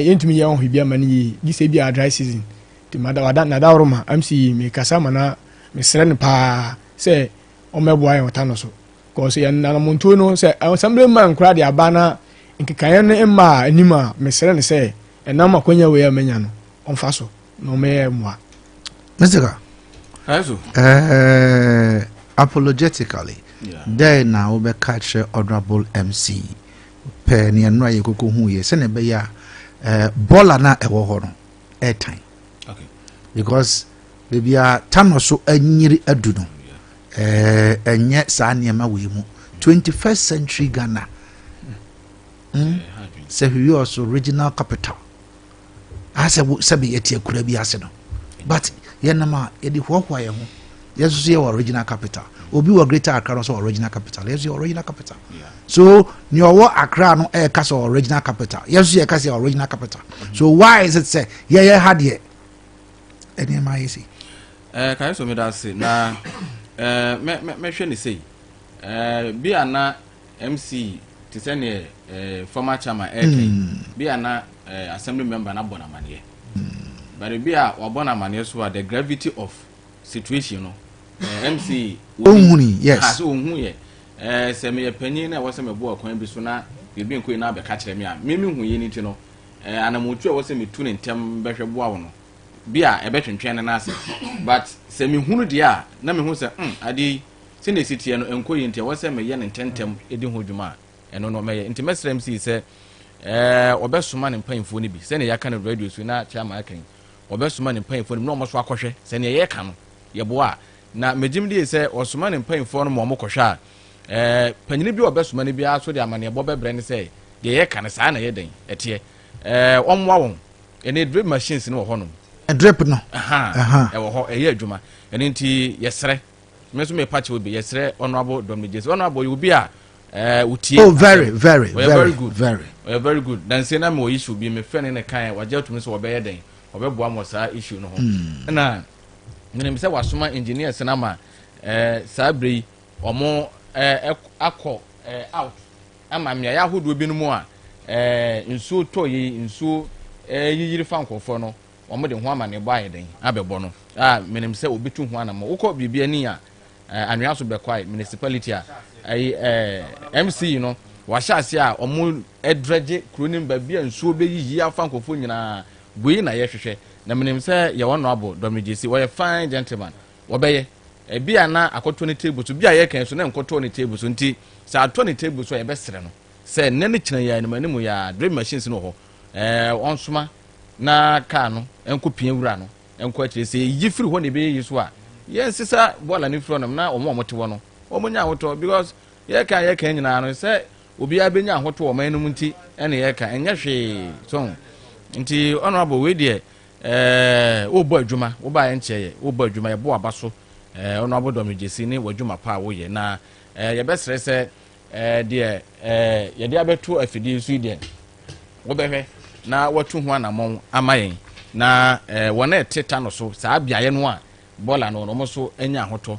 yɛntumi yɛ ɔho bi ama no yie gye sɛ bi a dry season nti nadaworo ma mc mekasa ma na mesrɛ no paa sɛ ɔmɛboa yɛn ɔta no so Because yɛn nanamontuo no sɛ Assembly man koraa de aba na nkekaeɛ no mma a anim a mesrɛ no sɛ ɛnam akwanya wei a manya no ɔmfa so na ɔmɛyɛ mmoa. Mr. Ka. Ɛso. Ɛɛ apologetically dɛn na wobɛka kyerɛ honorable mc pɛ neɛ nnora yɛ koko hu yɛ sɛnea ɛbɛyɛ a bɔla no a ɛwɔ hɔ no ɛtan okay. because baabi a tanɔ so anyiri adu no ɛnyɛ eh, saa nneɛma wei mu 21st century ghana hmm? sɛ hwiwi ɔso regional capital asɛ sɛbi yɛte akura bi ase no but yɛnam a yɛde hoahoa yɛn ho yɛsoso yɛ wɔ original capital obi wɔ greater accra no sɛ original capital yɛso yɛ original capital yeah. So nea ɔwɔ Accra no ɛreka sɛ ɔwɔ regional capital, yɛn nso yɛka sɛ ɔwɔ regional capital. Mm. So why is it sɛ yɛyɛ ha deɛ nneɛma ayɛ sei? Ɛɛ eh, kae so meda ase na ɛɛ eh, mɛ mɛ mɛhwɛ ne sei ɛɛ eh, bi a na MC te sɛ neɛ ɛɛ former chairman ɛɛka yi mm. bi a na ɛɛ assembly member na bɔ n'amaneɛ mm. bari bi a wabɔ n'amaneɛ so a the gravity of situation no ɛɛ MC. ohun yes. ha ah, so ohun yɛ. Ɛɛ, sɛ meyɛ panyin na ɛwɔ sɛ meboa ɔkwan bi so na biribi nkɔ yie na abɛka akyerɛ me a, me mehu yei no nti no, ɛɛ, anamɔtu a ɛwɔ sɛ metu no ntɛm bɛhwɛ boa wo no, bia ɛbɛtwentwɛn ne nan ase. But sɛ mehunu deɛ a, na mehu sɛ, hmm, adeɛ yi, sɛnea ɛsi teɛ no, ɛnkɔ yie nti ɛwɔ sɛ meyɛ no ntɛntɛm di ho dwuma a, ɛno no, mɛyɛ. Nti mɛsrɛ MC sɛ, ɛɛ, wɔbɛsoma ne mpaimfoɔ no bi, sɛnea yɛaka no radio so yi na Chairman aka yi, wɔbɛsoma ne mpaimfoɔ no bi na wɔn nso akɔhwɛ, sɛ nea yɛreka no, yɛboa a, Na megyem die sɛ ɔsoma ne mpainfoɔ no ma wɔn kɔhwɛ a, ɛɛ, panyini bi a ɔbɛsoma no biara so de amaneɛbɔ bɛbrɛ no sɛ, deɛ yɛka no, saa na ɛyɛ dɛn? Ɛteɛ. Ɛɛ, wɔmmoa wɔn. Ɛnee drip machines no wɔ hɔnom. Drip no. Ahaa, Ahaa. ɛwɔ hɔ, ɛyɛ adwuma. Ɛno nti, yɛsrɛ, me nso mepa kyɛw bi, yɛsrɛ Honourable Dominic Gyasi. Honourable, ɔyɛ obi a, ɛɛ, wotie. Oh, very, asɛm. very, ɔyɛ very, very good. Very. Ɔyɛ very good. Nansie na mewɔ issue bi, mefrɛ ne ne kaeɛ, wagye atum sɛ wɔbɛyɛ dɛn? Wɔbɛboa mo wɔ saa issue no ho. Mm. Ɛna. menim sɛ wasoma engineers no ama eh, saa berɛ yi wɔn eh, akɔ eh, out ama mmeaeɛ ahodoɔ binom a eh, nsuo tɔ yi nsuo eh, yiyiri fa nkurɔfoɔ no wɔn de ho amanneɛbɔ ayɛ dɛn abɛbɔ no a menim sɛ wɔbɛtu ho anamɔ wokɔ biribi ani a eh, anwea so bɛkwae municipality a ɛyi eh, eh, mc yi no wahyɛ ase a wɔn drɛgye kuro no mu baabi a nsuo bɛyiyi afa nkurɔfoɔ nyinaa wei na yɛhwehwɛ na minim sɛ yɛ wɔn abo dɔ megye si wɔyɛ fine gentleman wɔbɛyɛ ebi a na akɔtɔ ne table so bi a yɛka yi so na nkɔtɔɔ ne table so nti sɛ atɔ ne table so a yɛbɛsrɛ no sɛ nnɛ ne kyerɛ yɛ anim anim yɛ a drill machines no wɔ hɔ ɛɛ wɔnsoma na kaa no nkɔ pia wura no nkɔ akyire sɛ yɛyi firi hɔ na ɛbɛyɛ yi so a yɛnsesa bɔɔla no firi hɔ nom na wɔn a wɔte hɔ no wɔn nyɛ ahotɔ because yɛka yɛka nyinaa no sɛ obiara bɛnya ahoto wɔ ɔman no mu nti ɛne yɛka ɛnyɛ hwee so nti ɔno abɔ wei deɛ ɛɛ wobɔ adwuma wobaeɛ nkyɛ yɛ wobɔ adwuma yɛbɔ aba so ɛɛ ɔno abɔ dɔm gyesi ne w'adwuma pa a woyɛ na ɛɛ yɛbɛsrɛ sɛ ɛɛ deɛ ɛɛ yɛde abɛto afidie so yi deɛ wobɛhwɛ na watu ho anammɔn ama yɛn na ɛɛ wɔn a ɛte ta no so saa beaeɛ no a bɔɔla no wɔn nso anya ahotɔ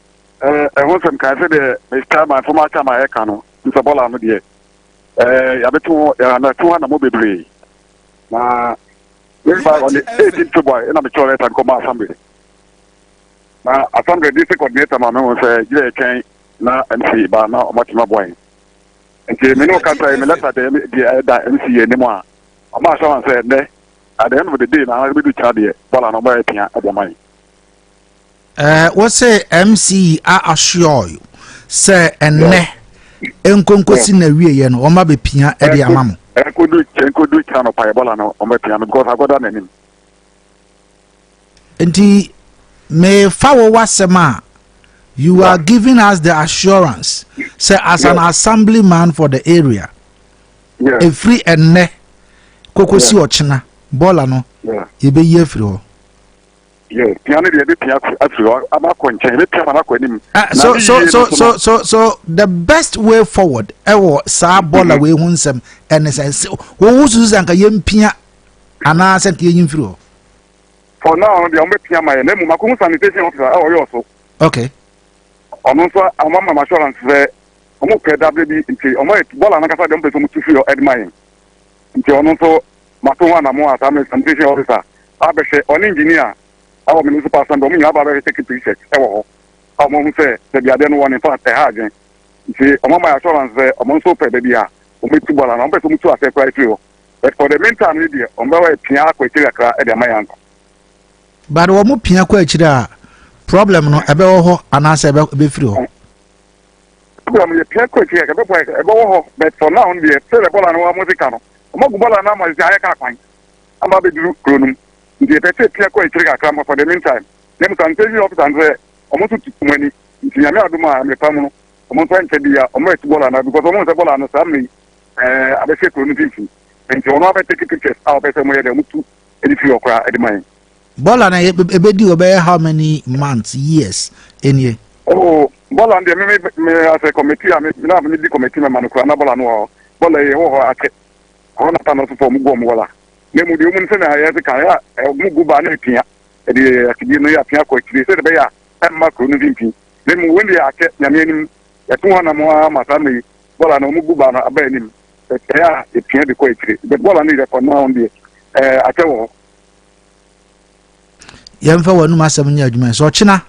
Eh, ɛho nsɛm kae sɛ deɛ Mr. my former cham a ɛka no, Mr. Bɔla no deɛ, eh, yɛabɛto ho, yɛabɛto ho anamɔ bebree. Na meba on the 18 February ɛna mekyerɛ lɛta no kɔma assembly. Na assembly district coordinator ma mehu sɛ gyerɛ ɛtwɛn na MC ba na ɔmatumi aboa yɛn. Nti me ne wo kasa yi, me lɛta deɛ ɛda MC yɛ anim a, ɔma assurance sɛ ɛnnɛ, at the end of the day na ɛbɛdu kyena deɛ, Bɔla no ɔbɛyɛ pia ɛde ama yɛn. Eh, wose MCE a assure you sɛ ɛnnɛ nkonkosi na wieɛ no wɔn abɛpia ɛde ama mo. Ɛnkodu ɛnkodu kyerɛ no pa ɛbɔla no wɔn bɛpia no because akɔda n'anim. Nti mefa wo wasɛm a you are giving us the assurance sɛ as an assembly man for the area efiri ɛnnɛ kokosi ɔkyena bɔɔla no yɛbɛyi afiri hɔ. Yeah, pia no deɛ ɛbɛpia afiri hɔ ama akɔ nkyɛn ɛbɛpia ma no akɔ anim ah, so, so, so, so, so, so the best way forward ɛwɔ eh, saa bɔɔla mm-hmm. wei ho nsɛm ɛne sɛ wɔwo susu sɛ anka yɛmpia anaasɛ nka yɛnyi mfiri hɔ for now no deɛ wɔbɛpia ma yɛ na mmom akɔhu sanitation officer a ɔyɛ ɔso okay ɔno nso ɔma ma assurance sɛ ɔmo pɛ dabrɛ bi nti ɔmo yɛ bɔɔla no kasa deɛ ɔmo pɛ sɛ ɔmo tu fi hɔ ɛde ma yɛn nti ɔno nso mato ho anamɔn as an examination officer abɛhwɛ ɔne engineer ɛwɔ municipal assembly ɔmo nyinaa aba abɛhwɛ taking pictures ɛwɔ hɔ a ɔmo ahu sɛ baabi adeɛ no wɔ no infact ɛha adwen nti ɔmo ama yɛ assurance sɛ ɔmo nso pɛ baabi a ɔmo bɛtu bɔɔla no ɔmo pɛ sɛ ɔmo tu aseɛ koraa efiri hɔ but for the mean time no deɛ ɔmo bɛwɔ pia akɔ akyiri kakra ɛde ama yɛ ansa. But wɔn pia kɔ akyiri a problem no ɛbɛwɔ hɔ anaasɛ ɛbɛfiri hɔ. Ebi wɔ hɔ no yɛ pia kɔ akyiri a yɛbɛbɔ a ɛbɛwɔ hɔ but for now no deɛ sɛ bɔɔla no wɔn sika no wɔn agu bɔɔla no ama sisi ayɛ kaa kwan ama abɛduru kuro no mu nti yɛpɛ sɛ pia kɔ akyiri kakra ma for the meantime na mu sanse yi officer no sɛ wɔn nso tu wɔn ani nti nyame adom a mmepa mu no wɔn nso nkyɛ bi a wɔn atu bɔɔla no because wɔn sɛ bɔɔla no saa mmiri ɛɛ abɛhyɛ kuro no mfimfini nti wɔn abɛtake pictures a wɔpɛ sɛ wɔn yɛ dɛ wɔn tu ɛde firi hɔ koraa ɛde ma yɛn. Bɔla na ebedi hɔ bɛyɛ how many months years nie. Oh bɔla deɛ me me me asɛ kɔmɛti a me na me di kɔmɛti mɛma no kura na bɔla no wɔ hɔ bɔla yɛ wɔ hɔ akyɛ ɔno na ta no so fɔ ɔmo gu ɔmo wɔla na emu deɛ ɔmo nsɛ na ayɛ se kan yɛ a ɔmo gu baa na epia ɛde yɛ akyidie no yɛ apia kɔ akyire sɛ de bɛyɛ a ɛmma kuro no finfin na emu wɔn deɛ akyɛ nyame anim ɛto hɔ anam ara ma saa mɛyi bɔla na ɔmo gu baa no aba anim ɛyɛ a epia de kɔ akyire bɔla no yɛ kɔ naa wɔn deɛ ɛɛ akyɛ wɔ hɔ. yɛmfa w'anom asɛm nyɛ adwuma sɛ ɔkyena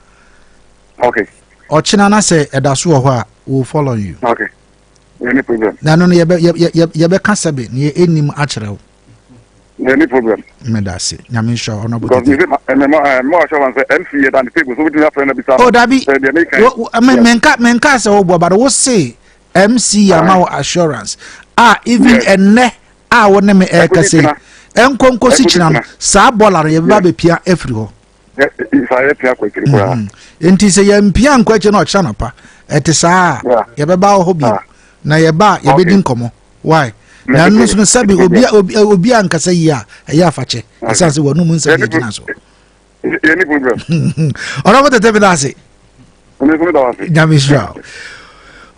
okay ɔkyena na sɛ ɛda so wɔ hɔ a will follow you okay any problem na no no yɛbɛka sɛ be ne ɛnim akyerɛ wo any problem meda ase nyame nhyira ɔno abotete o dabi menka sɛ woboa bade wo se MC yɛ ama wo assurance a even ɛnɛ a wo ne me ɛrekasa yi ɛnkɔ nkosi kyina no saa bɔɔla no yɛbɛba abɛpia afiri hɔ mhm. nti sɛ yɛmpia nkɔ akyiri na ɔkyerɛ no pa ɛte saa a yɛbɛba wɔ hɔ bio na yɛba a yɛbɛdi nkɔmmɔ why na ɛno nso no sɛbi obi a nkasa yie a ɛyɛ afakyɛ ɛsiane sɛ wɔnom nsɛm yɛgyina so yɛni problem ɔnɔfo tete bi n'ase nyame sira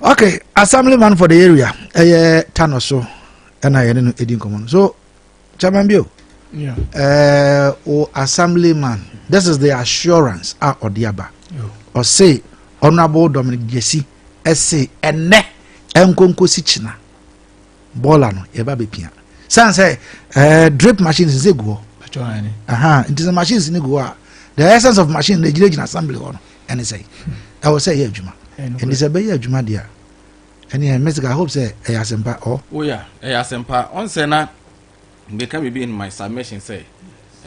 okay assembly man for the area ɛyɛ tano so ɛna yɛne no ɛdi nkɔmmɔ no so chairman bio yeah. uh, o assembly man this is the assurance a ɔde aba ɔse honorable dominic jesse ɛse ɛnɛ ɛnkonkosi kyina bɔɔla no yɛba bɛpia sane sɛ eh, drip machines sɛ gu hɔ nti sɛ machines no gu hɔ a the essence of machine no ɛgyinagyina assembly hɔ no ɛne sɛ ɛwɔ sɛ ɛyɛ adwuma ɛnti sɛ ɛbɛyɛ adwuma deɛ a ɛneɛ mɛsika hope sɛ ɛyɛ asɛmpa ɔ woya ɛyɛ asɛmpa ɔnsɛ na meka biribi in my submission sɛ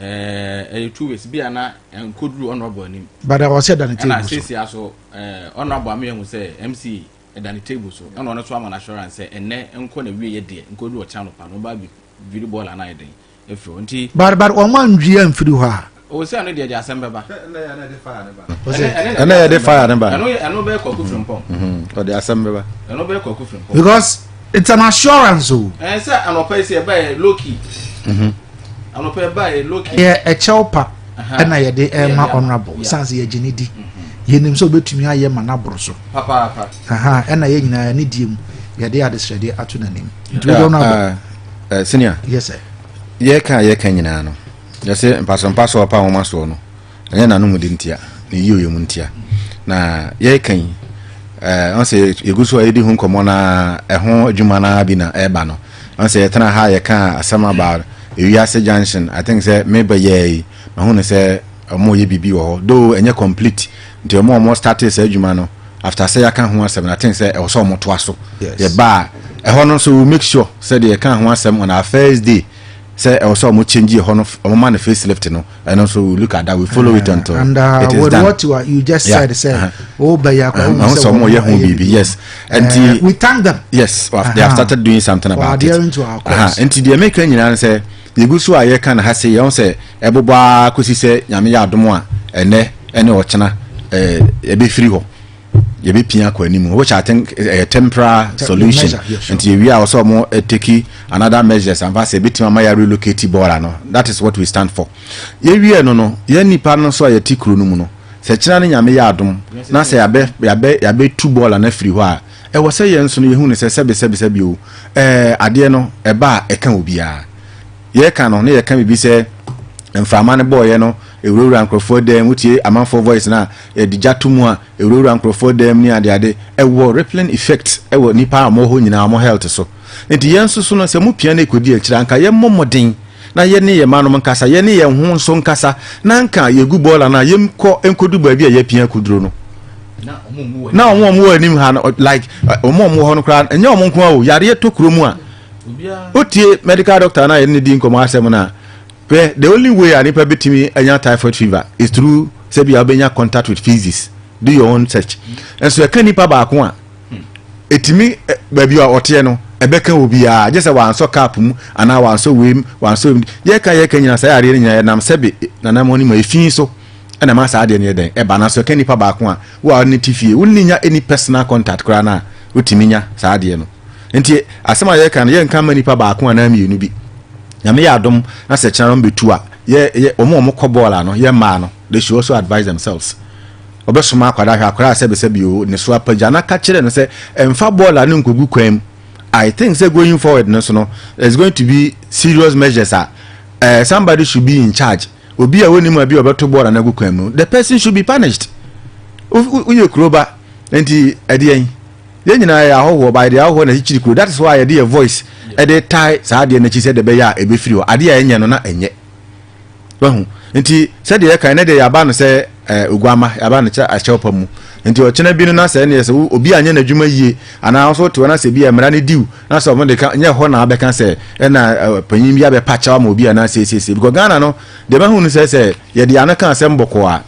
ɛyɛ eh, eh, two ways bi a na nkɔduru ɔnɔbɔ anim bada ɔsɛ da ne table so ɛna sɛsia so ɔnɔbɔ eh, ameahu sɛ mce ɛda ne table so ɛna ɔno nso ama no assurance sɛ ɛnɛ nkɔ na wie yɛ deɛ nkɔ du ɔkyɛ anɔpa no ɔba bi dwiri bɔɔla no ayɛ den ɛfiri hɔ nti. bari bari wɔn a ndwi yɛ nfiri hɔ a. o sɛ ɛno deɛ deɛ asɛm bɛba. ɛnna yɛ de fire ne ba. ɛnna yɛ de fire ne ba. ɛno ɛno bɛyɛ kɔkɔ firi mpɔm. ɔde asɛm bɛba. ɛno bɛyɛ kɔkɔ firi mpɔm. because it's an assurance o. ɛn sɛ anɔpa yi sɛ ɛbɛyɛ low key. yɛ kyɛw pa ɛna yɛde ɛma honorable san sɛ yɛgye ne di yɛnim sɛ wobɛtumi ayɛ ma no aboro so ɛna yɛ nyinaa ne die mu yɛde adesrɛdeɛ ato n'anim nti wode honorable senior yɛka yɛka nyinaa no yɛsɛ mpasompaso ɔpa nwoma soɔ no Ɛnyɛ n'anomde ntia, ne yiyɔyɛ mu ntia. Na yɛreka yi, eh, ɔn sɛ yɛgu so a yɛdi ho nkɔmmɔ na ɛho adwuma no bi na ɛreba no. Ɔn sɛ yɛtena ha yɛka asɛm about ewiase junction, I think sɛ me bɛyɛɛ yi, mahu no sɛ ɔmo yɛ biribi wɔ hɔ. Though ɛnyɛ complete, nti ɔmo a ɔmo startee saa adwuma no, after sɛ yɛaka ho asɛm no, I think sɛ ɛwɔ sɛ ɔmo toa so. Yes. Yɛba a, ɛhɔ no nso we make sure sɛ deɛ yɛka ho asɛm on our first day, sɛ ɛwɔ sɛ ɔmo change ɛhɔ no ɔmo ma no face lift no ɛno nso we look at that we follow it until and uh, it is with done what you, are, you just yeah. said sɛ o bɛ yɛ akɔ ɔmo sɛ ɔmo yɛ ho biribi yes nti uh, we thank them yes uh -huh. they have started doing something about it nti deɛ meka nyinaa no sɛ yɛgu so a yɛka no ha se yɛho sɛ ɛbobɔ ara kɔsi sɛ nyame yɛ adom a ɛnɛ ɛne ɔkyena ɛbɛfiri hɔ yɛbɛpia akɔ anim which i think ɛyɛ eh, eh, temporary solution nti yɛwie a wɔsɛ ɔmo eh, take another measures amfa sɛ ɛbɛtumi ama yɛ relocate bɔɔla no that is what we stand for yɛwie no no yɛn nipa no nso a yɛte kuro no mu no sɛ kyena no nyame yɛ adom na sɛ yɛabɛ yɛabɛ yɛabɛtu bɔɔla no afiri hɔ a ɛwɔ sɛ yɛn nso no yɛhu no sɛ sɛbesɛbesɛbi o ɛɛ adeɛ no ɛba a ɛka obiara Yɛreka no, na yɛka biribi sɛ mframa no bɔeɛ no ɛwurawuraa nkurɔfoɔ dan mu, wotie amanfoɔ voice no a, yɛde gya to mu a, ɛwurawuraa nkurɔfoɔ dan mu ne adeade. Ɛwɔ rippling effect wɔ nnipa a wɔwɔ hɔ nyinaa, wɔn health so. Enti yɛn nso so no, sɛ mopia na ɛkɔdi akyire a, anka yɛmmɔ mmɔden na yɛne yɛn mmanom nkasa, yɛne yɛn ho nso nkasa, na anka yɛgu bɔɔla no a, yɛnkɔ nkɔdu baabi a yɛapia akɔduro no. Na wɔn a wɔwɔ anim ha no, like wɔn a wɔwɔ hɔ no koraa, ɛnyɛ wɔn nko ara o, yareɛ tɔ kuro mu a, wotie medical doctor no a yɛne ne di nkɔmmɔ asɛm no a hwɛ the only way a nipa bɛtumi anya typhoid fever is through sɛ bia wobɛnya contact with physics do your own search nso ɛka nipa baako a ɛtumi baabi a ɔteɛ no ɛbɛka obiara gye sɛ wansɔ cap mu anaa wansɔ wei mu wansɔ wei mu yɛka yɛka nyina saa yareɛ no nyina yɛnam sɛbe nanamɔ no mu ɛfii so ɛna ma saa adeɛ no yɛ dɛn ɛba no so ɛka nipa baako a wo a ne te fie wonni nya any personal contact koraa no a wotumi nya saa adeɛ no Nti asɛm a yɛreka no yɛnka mma nipa baako anaa mmienu bi. Nyame yɛ adom na sɛ kyena wɔn bɛtu a, yɛ, yɛ, wɔn a wɔkɔ bɔɔl a no, yɛ mmaa no, they should also advise themselves. Wɔbɛsoma akwadaa hwɛ akwadaa a sɛbesɛbe o, ne so apagya na ka kyerɛ no sɛ ɛmfa bɔɔl a no nkɔgu kwan mu. I think sɛ going forward no so no, there's going to be serious measures a uh, somebody should be in charge. Obi a wɔnim a bi a ɔbɛto bɔɔl a no agu kwan mu no, the person should be punished. Woyɛ kuroba, nti ɛdeɛn? yɛn nyinaa yɛyɛ ahɔhoɔ ba yɛde ahɔhoɔ na akyikyiri kuro that is why yɛde yɛ voice ɛde tae saa adeɛ no akyi sɛ ɛde bɛyɛ a ɛbɛfiri hɔ adeɛ a ɛnyɛ no na ɛnyɛ wahu nti sɛdeɛ yɛka ɛnɛ deɛ yɛaba no sɛ ɛɛ oguama yɛaba no kyɛ akyɛw pa mu nti ɔkyena bi no na sɛ ɛne yɛ sɛ obi anyɛ n'adwuma yie anaa nso te hɔ na sɛ bi mmara no diw na sɛ ɔmo de ka nyɛ hɔ na abɛka sɛ ɛna panyin bi abɛpa kyɛw ama obi anaa sɛ sɛ sɛ because Ghana no deɛ bɛhu no sɛ sɛ yɛde ano ka asɛm bɔkɔɔ a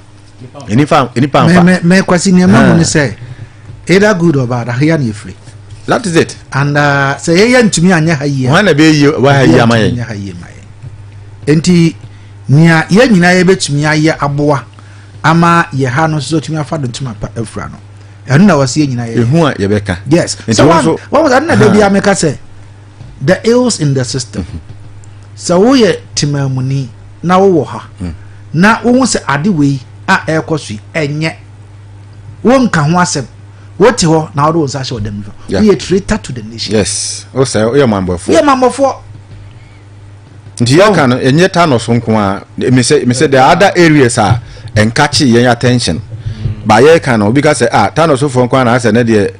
nipa nipa nfa. mɛ mɛ kwasi nìyɛn mɛ mu ni sɛ either good or bad ahiya ni efiri. that is it. and uh, sɛ yɛ yɛ ntumi anyɛ ha yie. wɔn na bɛ yie wɔ ha yie ama yɛ. anyɛ ha yie ma yɛ nti nea yɛ nyinaa yɛ bɛtumi ayɛ aboa ama yɛ ha no nso tumi afa do ntoma pa afura no ɛno na wɔsi yɛ nyinaa yɛ. ehu a yɛ bɛ ka. yes so wɔn wɔn ɛno na bɛ bi ameka sɛ. the ills in the system sɛ woyɛ temamuni na wowɔ ha hmm. na wohu sɛ ade wei a ɛrekɔ so yi ɛnyɛ wonka ho asɛm wote hɔ na wode wo nsa hyɛ ɔdam nifa woyɛ traitor to the nation yes o sɛ woyɛ mammɔfoɔ yɛ mammɔfoɔ nti yɛka no ɛnyɛ ta no so nko a mesɛ the other areas a ɛnka kye yɛn attention ba yɛka no obi ka sɛ ah ta no sofoɔ nko a na asɛ ne deɛ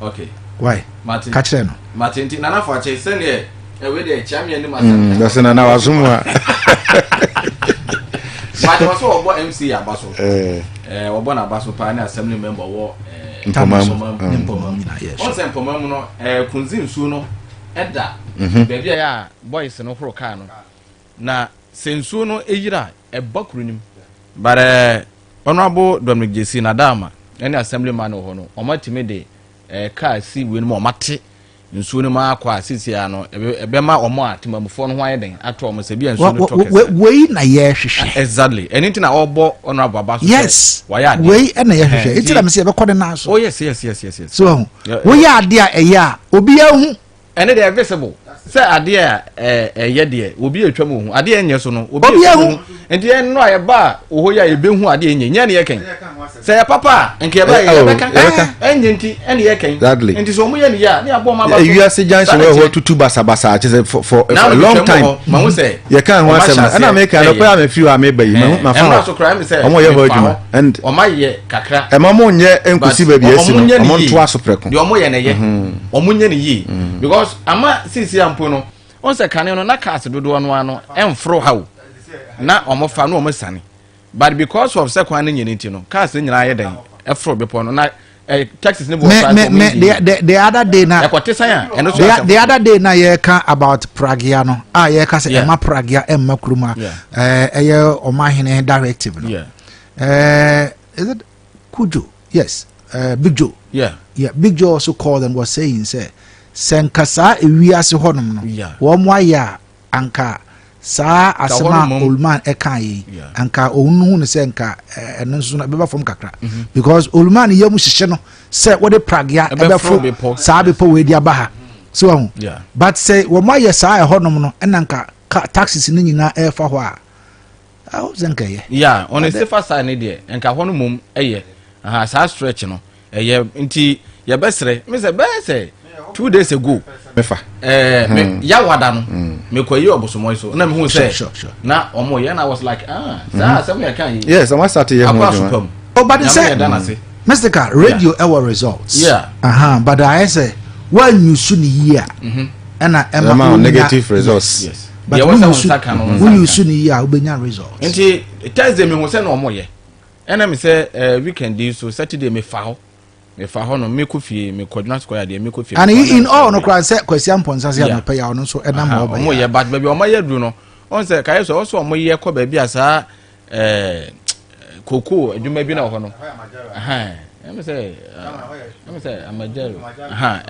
okay why martin ka kyerɛ no martin ti nana fo akyɛ sɛdeɛ ɛwɛ deɛ kyia mi anim asɛm dɔsɛ nana waso mu a martin wɔ sɛ wɔbɔ mc aba so wɔbɔ no aba so paa ne assembly member wɔ mpɔma mu mpɔma mu wɔn sɛ mpɔma mu no kunzi nsuo no ɛda baabi a yɛ a boys no horo kaa no Na sɛ nsuo no yera a, ɛba kuro no mu. But eh, Honourable Dominic Gyasi, Nadama ne Assembly man wɔ hɔ no, wɔn atumi de eh, car si wei no mu, wɔn ate nsuo no mu akɔ a sisi ara no, ɛbɛma wɔn a temamufoɔ no ho ayɛ den ato wɔn sɛ bi a nsuo no tɔ kɛse. Wei na yɛhwehwɛ. Ah, exactly. Ɛno nti na ɔbɔ Honourable Aba so sɛ yes, wayɛ adeɛ. Wei na yɛhwehwɛ. Nti na mesɛ yɛbɛkɔ ne nan so. Oh yes, yes, yes, yes, yes. So, woyɛ adeɛ a ɛyɛ a, obiara hu. ɛne deɛ visible sɛ adeɛ a ɛyɛ deɛ obi atwa mu ohu adeɛ nyɛ so no obi atwa mu ohu nti yɛn no a yɛba a oho yɛ a yɛbɛhu adeɛ nyɛ nyɛ ne yɛ kɛn sɛ yɛ papa a nka yɛba yɛ yɛbɛka ɛnyɛ nti ɛne yɛ kɛn nti sɛ ɔmo yɛ ne yɛ a ne abɔ ɔmo aba so ewiase junction wɔ hɔ tutu basabasa akyɛ sɛ for for a long time yɛ kan ho asɛm ɛna mi kan no kɔ yɛ a mi firi hɔ a mi ba yi ma fa hɔ ɔmo yɛ hɔ adwuma and ɔmo ayɛ kakra. Ɛma mo nyɛ nkosi baabi a ɛsi no, wɔn ntoa so prɛko. Deɛ wɔn yɛ no yɛ, mhm. wɔn nyɛ no yie. Mhm. Because ama sisi ampo no, wɔn sɛ kane no na cars dodoɔ no ano ɛnforo ha o, na wɔn fa na wɔn sani. But because of sɛ kwan no nyɛ ne ti no, cars no nyinaa yɛ dɛn ɛforo bepɔ no na eh, texas ne bɔ ɔfa ɛkɔ mi di the the other day na ɛkɔ tesan a ɛno so asɛm the other day na yɛka about pragia no a yɛka sɛ ɛma pragia ɛma kurom a ɛyɛ ɔmahene directive no Uh, is it Kujo? Yes, uh, Big Joe. Yeah. Yeah, Big Joe also called and was saying, say, sɛ nka saa ewiase hɔnom no wɔn mo ayɛ a anka saa asɛm a olman ɛka yi anka ɔno hu no sɛ nka eh, ɛno nso no ɛbɛba fam kakra mhm. because olman yɛ mu hyehyɛ no sɛ wɔde pragea ɛbɛfo saa bepɔ wei de aba ha si wɔn ho but sɛ wɔn ayɛ saa ɛhɔnom no ɛna nka taxes no nyinaa ɛrefa hɔ a. Ah, o sɛ nka yɛ. Yeah, on a safer side ne deɛ, nka hɔ no mom ɛyɛ. Aha, saa stretch no, ɛyɛ nti yɛbɛsrɛ. Me sɛ bɛyɛ sɛ two days ago. Mefa. Ɛɛ, me hmm. yawada no. Hmm. Me kɔ yi ɔbosomɔyi so. Na me hu sɛ. Sure, sure. Na ɔmo yɛ na I was like, ah, saa hmm. asɛm yɛ kan yi. Yes, ɔmo asate yɛ ho adwuma. Akɔ asopam. Ɔbade oh, sɛ. Mr. Radio ɛwɔ results. Yeah. Aha, but ayɛ sɛ wɔanyusu ne yie a. Mm-hmm. Ɛna ɛma negative results. Yes. but wo yusu wo yusu ni yie a wo bɛ nya result. nti thursday mi ho sɛ na ɔmo yɛ ɛna mi sɛ ɛɛ weekend yi so saturday mi fa hɔ mi fa hɔ no mi kɔ fie mi kɔ dwuma sukɔ yadeɛ mi kɔ fie. and in all no koraa sɛ kwasi ampɔnsa se anɔpɛ yɛ ɔno nso ɛnam ɔbɛ yɛ. ɔmo yɛ but baabi ɔmo yɛ duro no ɔn sɛ kayɛ sɛ ɔsɔ ɔmo yɛ kɔ baabi a saa. Eh, cocoa adwuma bi na wɔ hɔ no ɛm sɛ ɛm sɛ amagya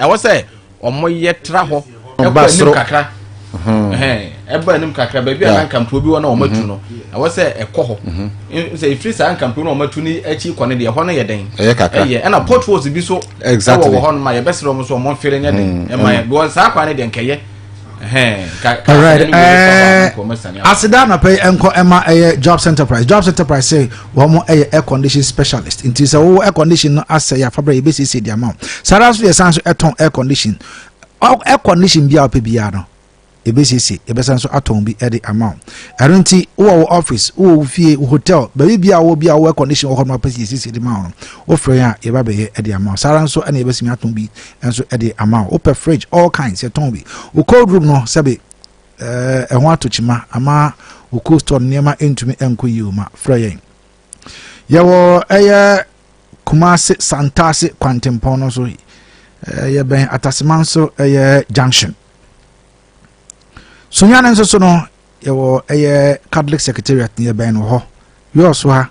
ɛwɔ sɛ wɔyɛ tra hɔ ɛkɔ anim kakra ɛba anim kakra baabi a nkampuo bi wɔ na wɔatu no ɛwɔ sɛ ɛkɔ hɔ sɛ ɛfiri saa nkampuo no wɔatu no akyi kɔ no deɛ ɛhɔ no yɛ dɛn ɛyɛ ɛna potholes bi so ɛwɔ wɔ hɔ no ma yɛbɛserɛ wɔn so wɔn mfere nyɛ den ɛma yɛ because saa kwan no deɛ nkɛyɛ alright eh, aseda anɔpɛ yi nkɔ ɛma ɛyɛ jobs enterprise jobs enterprise sɛ wɔn ɛyɛ air condition specialist nti sɛ wɔwɔ air condition no asɛ yɛ afabra yɛ bɛsiesie di ama wo saa ara nso yɛ san so ɛtɔn air condition air condition bi a wɔpɛ biara no ebesiesie ebɛsan so atɔn bi ɛde ama wo ɛno nti wowɔ wo office wowɔ wo fie wo hotel baabi bia wɔ bia wɔ air condition wɔ hɔ no apɛ siesie de ma wo no wofrɛ yɛn a yɛba bɛyɛ ɛde ama wo saa ara nso ɛna yɛbɛsimi atɔn bi Nso ɛde ama wo. Wopɛ fridge all kinds yɛtɔn bi. Wo cold room no sɛbe ɛɛ ɛho ato kyima ama wo cold store no nneɛma ntumi nkɔ yie o ma frɛ yɛn. Yɛwɔ ɛyɛ Kumasi Santase Kwantempɔn no so ɛyɛ bɛn Ataseman so ɛyɛ junction. Sunyani nso so no yɛwɔ ɛyɛ Catholic Secretariat no yɛ bɛn no hɔ. Yɔɔso ha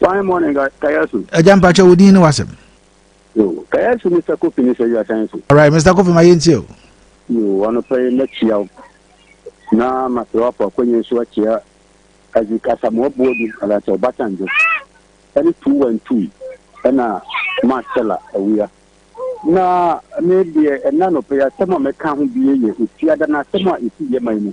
Fine morning, Kayasu. Agya mpakyɛ wo din ne wasɛm. Yo, Kayasu Mr. Kofi ne sɛ you are saying so. All right, Mr. Kofi ma yɛ ntie o. Yo, anɔpa yi mɛkyia wo. Na masrɛ wo afa akwanya nso akyia Isaac Asamoah Boadu anaasɛ Ɔbasanjo ɛne Tuu Wantui ɛna Marcella Awia. Na me deɛ ɛna anɔpa yi asɛm a mɛka ho bie yɛ Ofiada na asɛm a ɛsi yɛ man mu.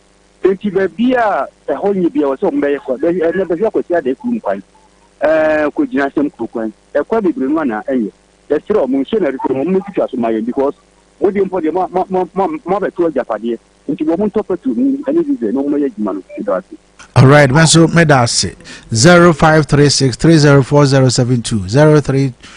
Enti baabi a ɛhɔ nye biara, wɔsɛ wɔn bɛyɛ kwan. Bɛ ɛnɛ bɛhwɛ Kwasi Adeh kurom kwan, ɛɛ Kogyina Asɛm kuro kwan, ɛkwan bebree no ana ɛnyɛ. Yɛsrɛ wɔn nhyɛ na ɛsrɛ wɔn wɔn mɛtwitwa so ma yɛn because mo deɛ mpo deɛ mo mo mo mo mo abɛto agyapadeɛ nti wɔn ntɔ pɛtro mu ɛne diesel na wɔn mɛyɛ adwuma no ɛdɔ ase. Alright, me nso meda ase 0536 304 072 03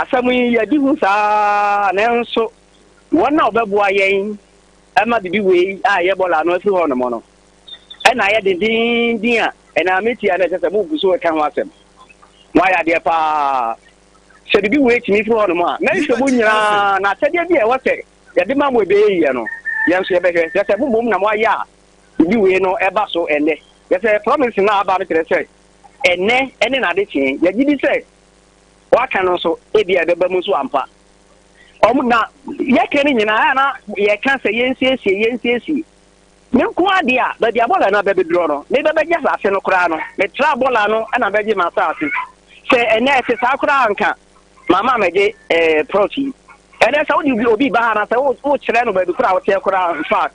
Asɛm yi yɛ di hu saa ara, nanso wɔn a wɔbɛboa yɛn ma biribi wei a ɛyɛ bɔla ano afiri hɔnom no na ayɛ dendenden a ɛnam metia na ɛsɛ sɛ mogu so ka ho asɛm. Moayɛ adeɛ paa. Sɛ biribi wei tumi firi hɔnom a, mɛhwɛ mu nyinaa na akyɛdeɛ bi a ɛwɔ sɛ yɛde ma mo ɛbɛyɛ yie no, yɛn nso yɛbɛhwɛ. Kyerɛ sɛ mo mmom na moayɛ a biribi wei no ɛba so ɛnnɛ. Kyerɛ sɛ promise no a aba no kyerɛ sɛ ɛnnɛ ne n'adekyee. Yɛgye di sɛ wɔaka no nso ebia ɛbɛba mu nso ampa. Wɔn na yɛka no nyinaa a na yɛka sɛ yɛnsiesie yɛnsiesie. Me nko adeɛ a baabi a bɔla no abɛbɛdurɔ no me bɛbɛgye asase no koraa no metra bɔla no na bɛgye m'asase. Sɛ ɛnɛ ɛte saa koraa nka mama mɛgye ɛɛ eh, prɔt yi. Ɛnɛ sɛ wode obi ba ha na sɛ wokyerɛ no baabi koraa a woteɛ koraa in fact